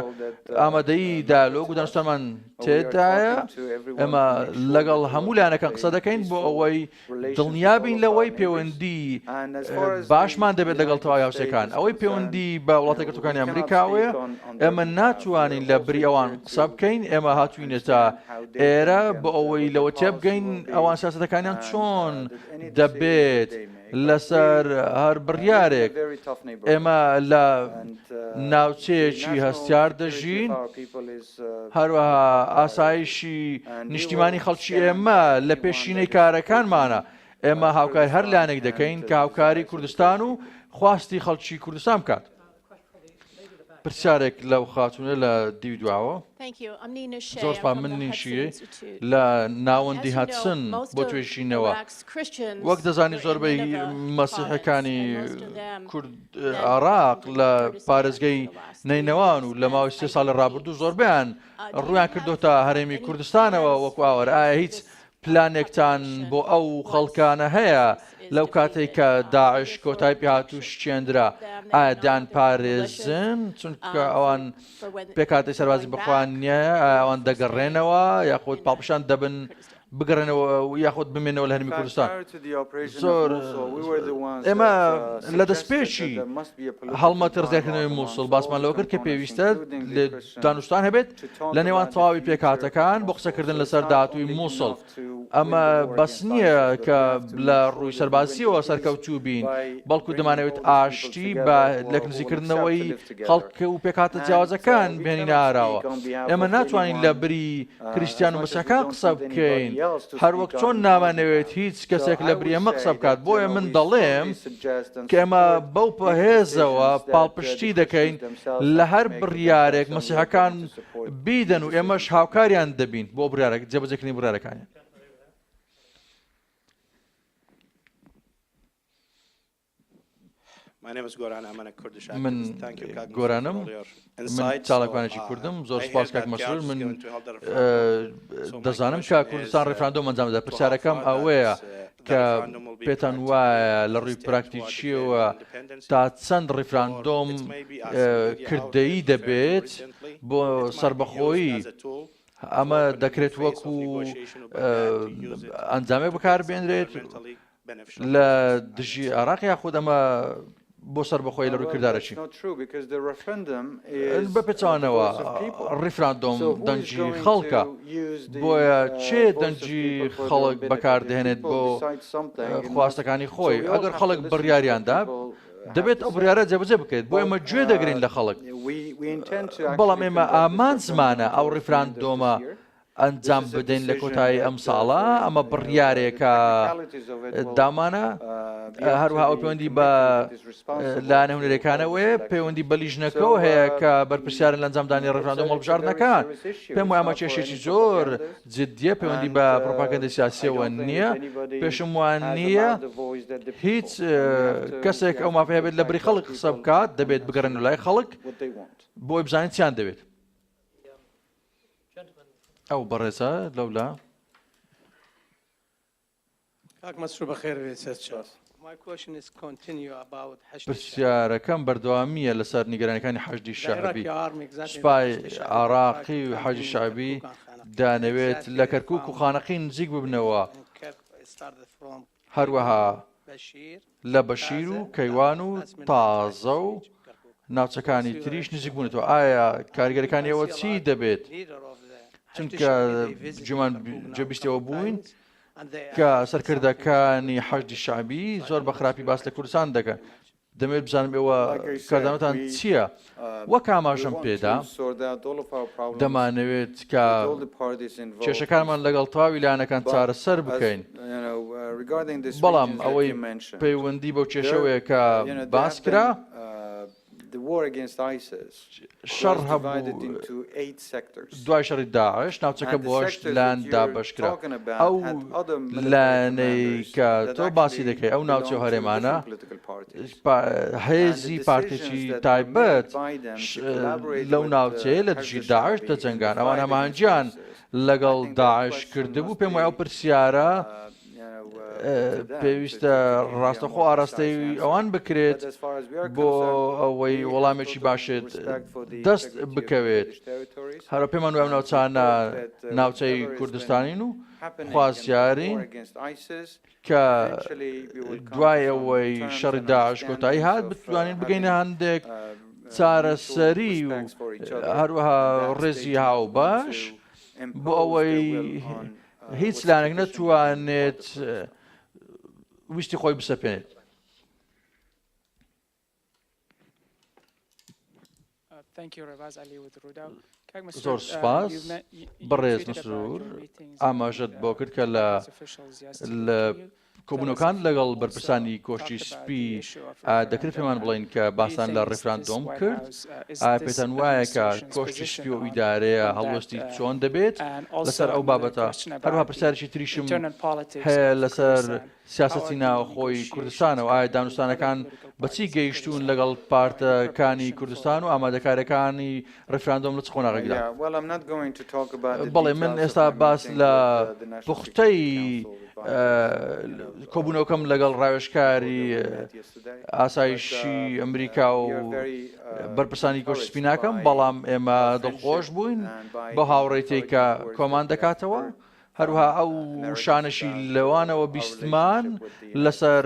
ئامادەی دالۆک و دانوستانمان تێدایە ئێمە لەگەڵ هەموو لایەنەکان قسە دەکەین بۆ ئەوەی دڵنیابین لەوەی پەیوەندی باشمان دەبێت لەگەڵ تەواوی هاوسەکان ئەوەی پەیوەندی بە وڵاتە گرتوەکانی ئەمریکاوەیە ئێمە ناتوانین لە بری ئەوان قسە بکەین ئێمە هاتوینە تا ئێرە بۆ ئەوەی لەوە تێبگەین ئەوان سیاستەکانیان چۆن دەبێت. لەسەر هەر بڕیارێک، ئێمە لە ناوچەیەکی هەستیار دەژین، هەروەها ئاسایشی نیشتیمانی خەڵکی ئێمە لە پێشینەی کارەکانمانە، ئێمە هاوکاری هەر لایەنێک دەکەین کە هاوکاری کوردستان و خواستی خەڵکی کوردستان بکات. پرسیارێک لە و خاتونە لە دیو دواوە زۆرپا من نیشیە لە ناوەندی هاتسن بۆ توێشینەوە وەک دەزانی زۆربەی مەسیحەکانی کورد عراق لە پارێزگەی نینەوان و لە ماوەی سێ ساڵی ڕابردوو زۆربیان ڕویان کردو تا هەرێمی کوردستانەوە وەکو ئاوەر ئایا هیچ پلانێکتان بۆ ئەو خەڵکانە هەیە لەو کاتەی کە داعش کۆتای پێهات و شکێندرا ئایا دەیانپارێزن چونکە ئەوان پێکاتی سەربازی بخوان نییە ئەوان دەگەڕێنەوە یاخود پاڵپشان دەبن بگەڕێنەوە یاخود بمێنەوە لە هەرمی کوردستان زۆر ئێمە لە دەستپێکی هەڵمەتی ڕزگارکردنەوەی مووسڵ باسمان لەوە کرد کە پێویستە لە دانوستان هەبێت لە نێوان تەواوی پێکهاتەکان بۆ قسەکردن لەسەر داهاتووی مووسڵ. ئەمە بەس نییە کە لە ڕووی سەربازییەوە سەرکەوتوو بین، بەڵکو دەمانەوێت ئاشتی بە لێکنزیکردنەوەی خەڵک و پێکهاتە جیاوازەکان بهێنینە ئاراوە. ئێمە ناتوانین لە بری کریستیان و مسیحەکان قسە بکەین، هەروەک چۆن نامانەوێت هیچ کەسێک لە بری ئێمە قسە بکات. بۆیە من دەڵێم کە ئێمە بەو هێزەوە پاڵپشتی دەکەین، لە هەر بڕیارێک مەسیحەکان بیدەن و ئێمەش هاوکاریان دەبین بۆ بڕارێک جێبەجێکردنی بڕارەکانیان. من گۆرانم چاڵکوانێکی کوردم زۆر سپاس کاک مەسرور من دەزانم کە کوردستان ڕفراندۆ ئەنجامدا پرسیارەکەم ئەوەیە کە پێتان وایە لە ڕووی پراکتیکییەوە تا چەند ڕیفراندۆم کردەیی دەبێت بۆ سەربەخۆیی ئەمە دەکرێت وەکو ئەنجامێک بەکاربێنرێت لە دژی عراق یاخود ئەمە بۆ سەربەخۆیی لە ڕووی کردارە چی؟ بە پێچەوانەوە ڕیفراندۆم دەنگی خەڵکە، بۆیە کێ دەنگی خەڵک بەکاردەهێنێت بۆ خواستەکانی خۆی؟ ئەگەر خەڵک بڕیاریاندا، دەبێت ئەو بڕیارە جێبەجێ بکرێت، بۆیە ئێمە گوێ دەگرین لە خەڵک، بەڵام ئێمە ئامانجمانە ئەو ڕیفراندۆمە ئەنجام بدەین لە کۆتایی ئەم ساڵە ئەمە بڕیارێکە دامانە هەروها ئەو پەیوەندی بە لایەنە هونەرەکانەوەی پەیوەندی بە لیژنەکەەوە هەیە کە بەرپسیارن لە ئەنجامدانی ڕفراندۆم هەڵبژاردنەکان پێم وامە کێشێکی زۆر جددیە پەیوەندی بە پرۆپاگەندە سیاسیەوە نییە پێشم وان نییە هیچ کەسێک ئەو مافەیە بێت لە بری خەڵک قسە بکات دەبێت بگەڕن لای خەڵک بۆی بزانین چیان دەوێت ئەو بەڕێزە لەولا. کاک مەسرور بەخێر بێی سەر چاوت. پرسیارەکەم بەردەوامییە لەسەر نیگەرانەکانی حەشدی شەعبی سوپای عراقی و حەجی شعبی دانەوێت لە کەرکک و خانەقی نزیک ببنەوە هەروەها لە بەشیر و کەیوان و تازە و ناوچەکانی تریش نزیک بوونەتەوە ئایا کارگەرەکانی ئەوە چی دەبێت چونکە جومان جەبیستەوە بووین کە سەرکردەکانی حەشدی شعبی زۆر بە خراپی باس لە کوردستان دەکەن دەمەوێت بزانم ئێوە کاردانەوەتان چییە؟ وەک ئاماژەم پێدا، دەمانەوێت کە کێشەکانمان لەگەڵ تەواوی لایەنەکان چارەسەر بکەین، بەڵام ئەوەی پەیوەندی بەو کێشەوەیە کە باس کرا، شەڕ هەبوو دوای شەڕی داعش ناوچەکە بۆ هەشت لایەن دابەشکرا ئەو لایەنەی کە تۆ باسی دەکەی ئەو ناوچە هەرێمانە هێزی پارتێکی تایبەت لەو ناوچەیە لە دژی داعش دەجەنگان ئەوان هەمانجیان لەگەڵ داعش کردبوو پێم وای ئەو پرسیارە پێویستە ڕاستەخۆ ئاراستەی ئەوان بکرێت بۆ ئەوەی وەڵامێکی باشێت دەست بکەوێت هەرە پێمان وای ناوچانە ناوچەی کوردستانین و خوازیارین کە دوای ئەوەی شەڕی داعش کۆتایی هات بتوانین بگەینە هەندێک چارەسەری و هەروەها ڕێزی هاو باش بۆ ئەوەی هیچ لایەنێک نەتوانێت ویستی خۆی بسەپێنێت زۆر سپاس بەڕێز مسرور ئاماژەت بۆ کرد کە لە لە کۆبوونەوەکان لەگەڵ بەرپرسانی کۆشکی سپی، ئایا دەکرێت پێمان بڵێن کە باسان لە ڕیفراندۆم کرد؟ ئایا پێتان وایە کە کۆشکی سپی و ئیدارەیە هەڵوێستی چۆن دەبێت لەسەر ئەو بابەتە؟ هەروەها پرسیارێکی تریشم هەیە لەسەر سیاسەتی ناوخۆی کوردستانەوە، ئایا دانوستانەکان بە چی گەیشتوون لەگەڵ پارتەکانی کوردستان و ئامادەکارییەکانی ڕیفراندۆم لە چ قۆناغێکدا بەڵێ من ئێستا باس لە پوختەی کۆبوونەوەکەم لەگەڵ ڕاوێشکاری ئاسایشی ئەمریکا و بەرپرسانی کۆش سپیناکەم بەڵام ئێمە دڵخۆش بووین بە هاوڕێتی کە کۆمان دەکاتەوە هەروەها ئەو وشانەشی لەوانەوە بیستمان لەسەر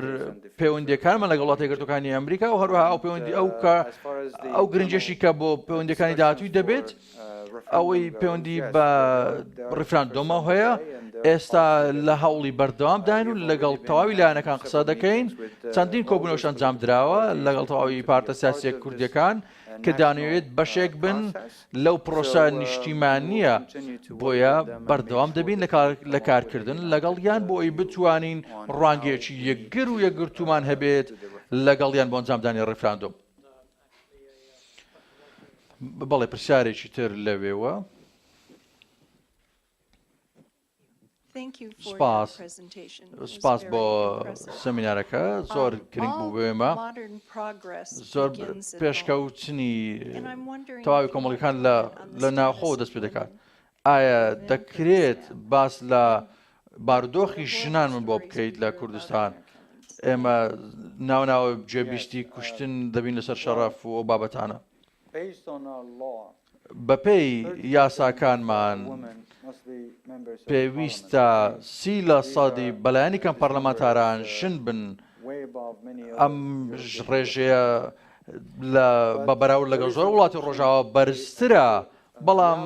پەیوەندەکانمان لەگەڵ وڵاتی یەکگرتووەکانی ئەمریکا و هەروەها ئەو پەیوەندی ئەو کە ئەو گرنجێکی کە بۆ پەیوەندەکانی داهاتووی دەبێت ئەوەی پەیوەندی بە ڕیفراندۆمە هەیە ئێستا لە هەوڵی بەردەوام داین و لەگەڵ تەواوی لایەنەکان قسە دەکەین چەندین کۆبنەوەش ئەنجام دراوە لەگەڵ تەواوی پارتە سیاسیە کوردەکان کە دانەوێت بەشێک بن لەو پرۆسە نیشتیمانییە، بۆیە بەردەوام دەبین لە کارکردن لەگەڵیان بۆ ئەوەی بتوانین ڕوانگەیەکی یەکگر و یەکگرتوومان هەبێت لەگەڵیان بۆ ئەنجامدانی ڕیفراندۆم. بەڵێ پرسیارێکی تر لەوێوە. سپاس سپاس بۆ سەمینارەکە زۆر گرنگ بوو بێمە زۆر پێشکەوتنی تەواوی کۆمەڵەکان لە ناوخۆ دەست پێ دەکات ئایا دەکرێت باس لە باردۆخی ژنان من بۆ بکەیت لە کوردستان ئێمە ناوناوە جێبیستی کوشتن دەبین لەسەر شەڕاف و بابەتانە بەپێی یاساکانمان پێویستە سی لە سەدی بەلایەنی کەم پەرلەمانتاران ژن بن، ئەم ڕێژەیە بە بەراورد لەگەڵ زۆر وڵاتی ڕۆژاوا بەرزترە، بەڵام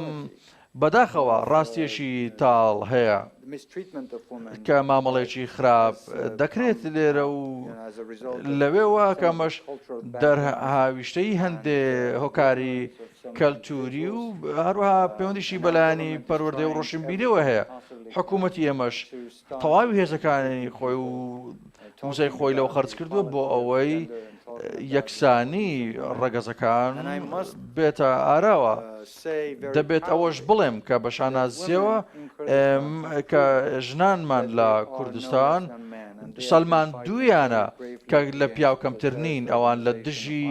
بەداخەوە ڕاستیەکی تاڵ هەیە. کە مامەڵەیەکی خراپ دەکرێت لێرە و لەوێوە کە ئەمەش دەرهاویشتەی هەندێ هۆکاری کەلتوری و هەروەها پەیوەندیشی بەلانی پەروەردە و ڕۆشنبیرەوە هەیە حکوومەتی ئێمەش تەواوی هێزەکانی خۆی و موزای خۆی لەو خرج کردووە بۆ ئەوەی یەکسانی ڕەگەزەکان بێتە ئاراوە. دەبێت ئەوەش بڵێم کە بە شانازییەوە ئێم کە ژنانمان لە کوردستان سەلمان دوویانە کە لە پیاو کەمتر نین ئەوان لە دژی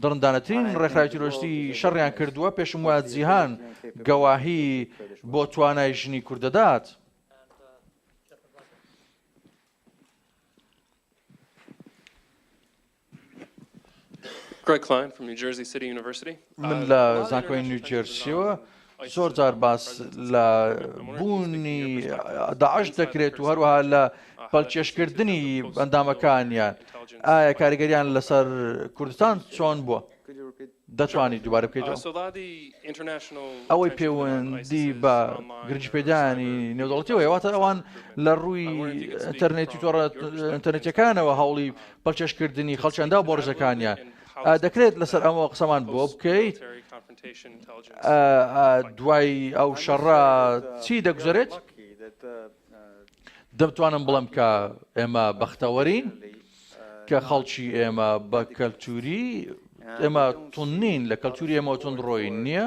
دڕندانەترین ڕێکخراوی تیرۆستی شەڕیان کردووە پێشم وە جیهان گەواهی بۆ توانای ژنی کوردەدات. من لە زانکۆی نیوجێرسیەوە زۆر جار باس لە بوونی داعش دەکرێت و هەروەها لە پەلچێشکردنی ئەندامەکانیان ئایا کاریگەریان لەسەر کوردستان چۆن بووە؟ دەتوانیت دووبارە بکەیتەوە؟ ئەوەی پێوەندی بە گرنگیپێدانی نێودەوڵەتیەوە هێواتە ئەوان لە ڕووی ئەتەرنێتی تۆڕە ئەتەرنێتەکانەوە هەوڵی پەلچەشکردنی خەڵچەندا و بۆڕژەکانیان دەکرێت لەسەر ئەمەوە قسەمان بۆ بکەیت دوای ئەو شەڕە چی دەگوزارێت دەمتوانم بڵم کە ئێمە بەختەوەرین کە خەڵکی ئێمە بە کەلتوری ئێمە تون نین لە کەلتوری ئێمە تونندڕۆین نییە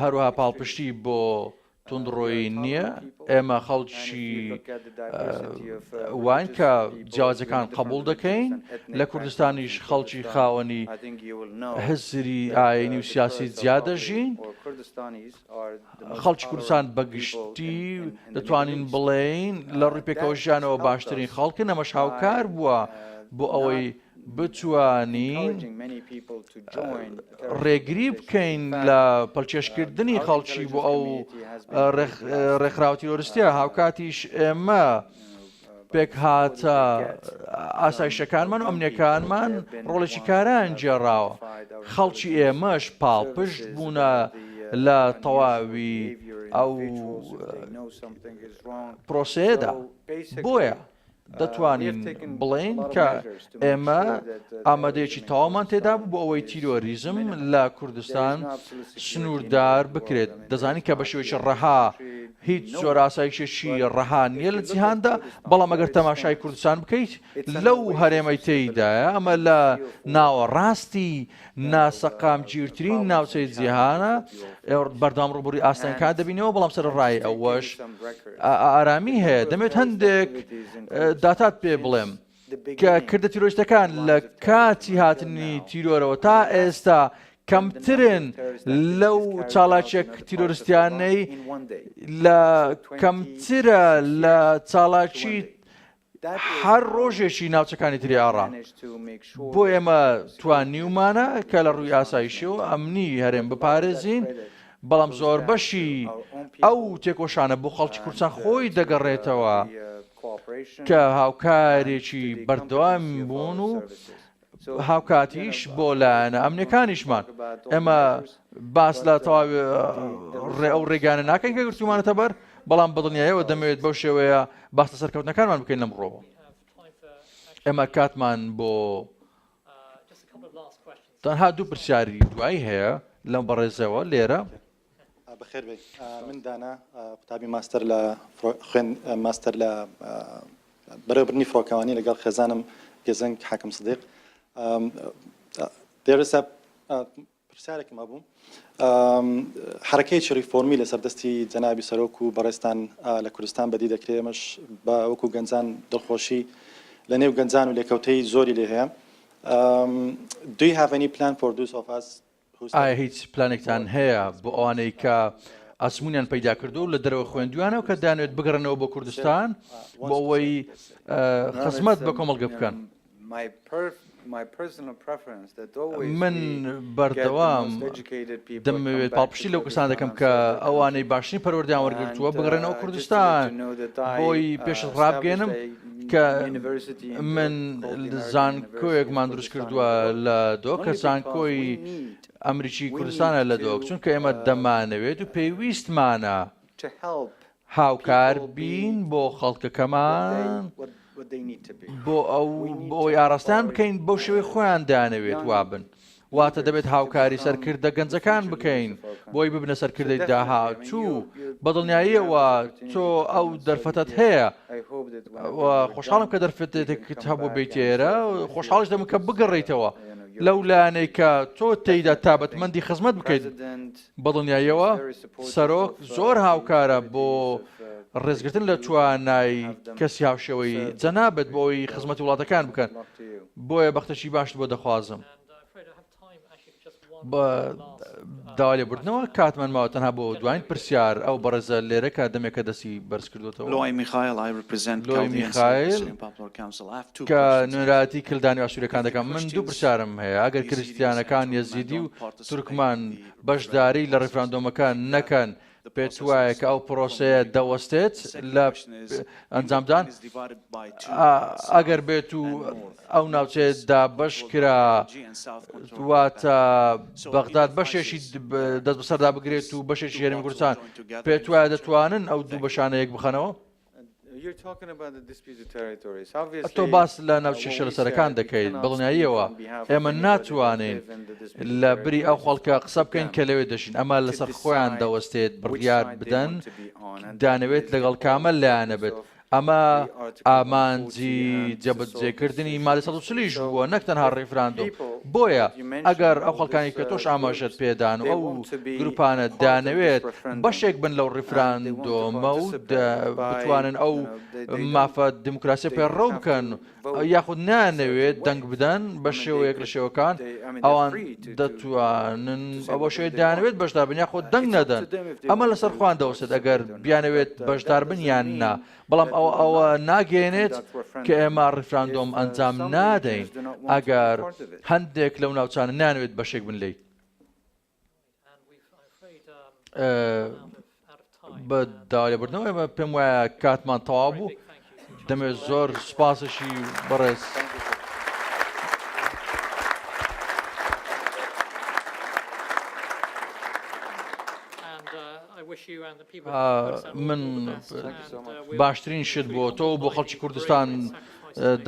هەروها پاڵپشتی بۆ تونندڕۆی نییە ئێمە خەڵکی وان کە جیاجەکان قبول دەکەین لە کوردستانیش خەڵکی خاوەنی هزری ئاینی و سیاسی زیادەژین کوردستانیش خەڵکی کوردستان بە گشتی دەتوانین بڵێین لە ڕووی پێکەوە ژیانەوە باشترین خەڵکن ئەمەش هاوکار بووە بۆ ئەوەی بتوانین ڕێگری بکەین لە پەلچێشکردنی خەڵکی بۆ ئەو ڕێکخراوەتی لۆرستیا هاوکاتیش ئێمە پێکهاتە ئاسایشەکانمان و ئەمنیەکانمان ڕۆڵێکی کاران گێڕاوە خەڵکی ئێمەش پاڵپشت بوونە لە تەواوی ئەو پرۆسەیەدا بۆیە دەتوانین بڵێین کە ئێمە ئامادەیەکی تەواومان تێدا بوو بۆ ئەوەی تیرۆریزم لە کوردستان سنووردار بکرێت دەزانین کە بە شێوەیەکی ڕەها هیچ زۆر ئاسایشێکی ڕەها نییە لە جیهاندا بەڵام ئەگەر تەماشای کوردستان بکەیت لەو هەرێمەی تێیدایە ئەمە لە ناوە ڕاستی ناسەقام گیرترین ناوچەی جیهانە بەردام ڕوبوری ئاستەنکان دەبینەوە بەڵام سەر ڕای ئەوەش ئارامی هەیە دەمێت هەندێک داتات پێ بڵێم. کە کردە تیرۆریستەکان لە کاتی هاتنی تیرۆرەوە تا ئێستا کەمترن لەو چاڵاکێک تیرۆرستیانەی لە کەمترە لە چاڵاکی هەر ڕۆژێکی ناوچەکانی تری ئاڕا بۆ ئێمە توانیومانە کە لە ڕووی ئاسایشی و ئەمنی هەرێم بپارێزین بەڵام زۆر بەشی ئەو تێکۆشانە بۆ خەڵکی کورسان خۆی دەگەڕێتەوە. Uh, کە هاوکارێکی بەردەوام بوون و هاوکاتیش بۆ لایەنە ئەمنەکانیشمان ئێمە باس لە تەواوی ڕێ ئەو ڕێگانە ناکەین کە گرتومانەتە بەر بەڵام بەدڵنیایەوە دەمەوێت بەو شێوەیە باستە سەرکەوتنەکانمان بکەین لەم ڕۆوە ئێمە کاتمان بۆ تەنها دوو پرسیاری دوایی هەیە لەم بەڕێزەوە لێرە بەخێر
بێی من دانا قوتابی ماستەر لە خوێن ماستەر لە بەرەبرنی فڕۆکەوانی لەگەڵ خێزانم گەزەنگ حاکم سدیق دێرسا پرسیارێکم هەبوو حرەکەی چری فۆمی لە سەردەستی جەنابی سەرۆک و بەڕێستان لە کوردستان بەدی دەکرێمەش بە وەکو گەنجان دڵخۆشی لە نێو گەنجان و لێکەوتەی زۆری لێ هەیە دوی هاڤنی پلان فۆردوس ئۆفاس ئایا هیچ
پلانێکتان هەیە بۆ ئەوانەی کە ئەزمونیان پەیدا کردو لە دەرەوە خوێندویانەوە کە دانوێت بگەڕنەوە بۆ کوردستان بۆ ئەوەی خزمەت بە کۆمەڵگە بکەن؟ من بەردەوام دەمەوێت پاڵپشتی لەو کەسان دەکەم کە ئەوانەی باشترین پەروەردەیان وەرگتووە بگەڕێنەوە کوردستان بۆی پێشت ڕابگەێنم کە من زانکۆیەکمان دروست کردووە لە دۆکە زانکۆی ئەمریکی کوردستانە لە دۆک چونکە ئێمە uh, دەمانەوێت و پێویستمانە هاوکار بین بۆ خەڵکەکەمان بۆ ئەو بۆی ئاراستان بکەین بۆ شوێ خۆیان دانەوێت وابن. واتە دەبێت هاوکاری سەرکردە گەنجەکان بکەین بۆی ببنە سەرکردەی داهاتوو بەدڵنیاییەوە تۆ ئەو دەرفەتەت هەیە خۆشحاڵم کە دەرفەتێکت هەبوو بیت ئێرە خۆشحاڵش دەم کە بگەڕیتەوە لەو لایەنێکە تۆ تێیدا تابەتمەندی خزمەت بکەیت بەدڵنیاییەوە سەرۆک زۆر هاوکارە بۆ ڕێزگرتن لە توانای کەسی هاوشێوەی جەنابت بۆ ئەوەی خزمەتی وڵاتەکان بکەن، بۆیە بەختەکی باشت بۆ دەخوازم. بە داوا لێبوردنەوە کاتمان ماوە تەنها بۆ دواین پرسیار ئەو بەڕێزە لێرە کە دەمێکە دەستی بەرزکردۆتەوە. لۆی میخایل کە نوێنەرایەتی کلدانی ئاشوریەکان دەکەم من دوو پرسیارم هەیە ئەگەر کرستیانەکان یەزیدی و تورکمان بەشداری لە ڕیفراندۆمەکە نەکەن، پێتوایە کە ئەو پرۆسەیە دەوەستێت لە ئەنجامدان؟ ئەگەر بێت و ئەو ناوچەیە دابەش کرا واتە بەغداد بەشێکی دەست بەسەردا بگرێت و بەشێکی هەرێمی کوردستان پێتوایە دەتوانن ئەو دوو بەشانە یەک بخەنەوە؟ تۆ باس لە ناوچە شێلسەرەکان دەکەیت، بەدڵنیاییەوە ئێمە ناتوانین لە بری ئەو خەڵکە قسە بکەین کە لەوێ دەژین، ئەمە لەسەر خۆیان دەوەستێت بڕیار بدەن دانەوێت لەگەڵ کامە لایەنە بێت، ئەمە ئامانجی جێبەجێکردنی مادەی سەد و چل یش بووە نەک تەنها ڕیفراندۆم، بۆیە. ئەگەر ئەو خەڵکانەی کە تۆش ئاماژەت پێدان و ئەو گروپانە دانەوێت بەشێک بن لەو ڕیفراندۆمە و بتوانن ئەو مافە دیموکراسیە پەیڕەو بکەن یاخود نانەوێت دەنگ بدەن بە شێوەیەک لە شێوەکان ئەوان دەتوانن ئەوە شێ دانوێت بەشدار بن یاخۆ دەنگ نەدەن ئەمە لەسەر خوان دەوسێت ئەگەر بیانەوێت بەشدار بن یان نا بەڵام ئەوە ئەوە ناگەیەنێت کە ئێمە ڕیفراندۆم ئەنجام نادەین ئەگەر هەندێک لەو ناوچانە نانوێت بەشێک بن لی بە داوالێبردنەوە ئێمە پێم وایە کاتمان تەوا بوو دەمێت زۆر سوپاسشی بەڕێز. من باشترین شت بۆ تۆ و بۆ خەڵکی کوردستان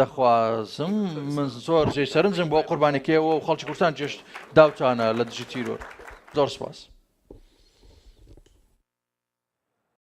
دەخوازم من زۆر جێ سەرنجم بۆ قوربانەکەیەوە و خەڵکی کوردستان جێشت داوتانە لە دژی تیرۆر زۆر سپاس.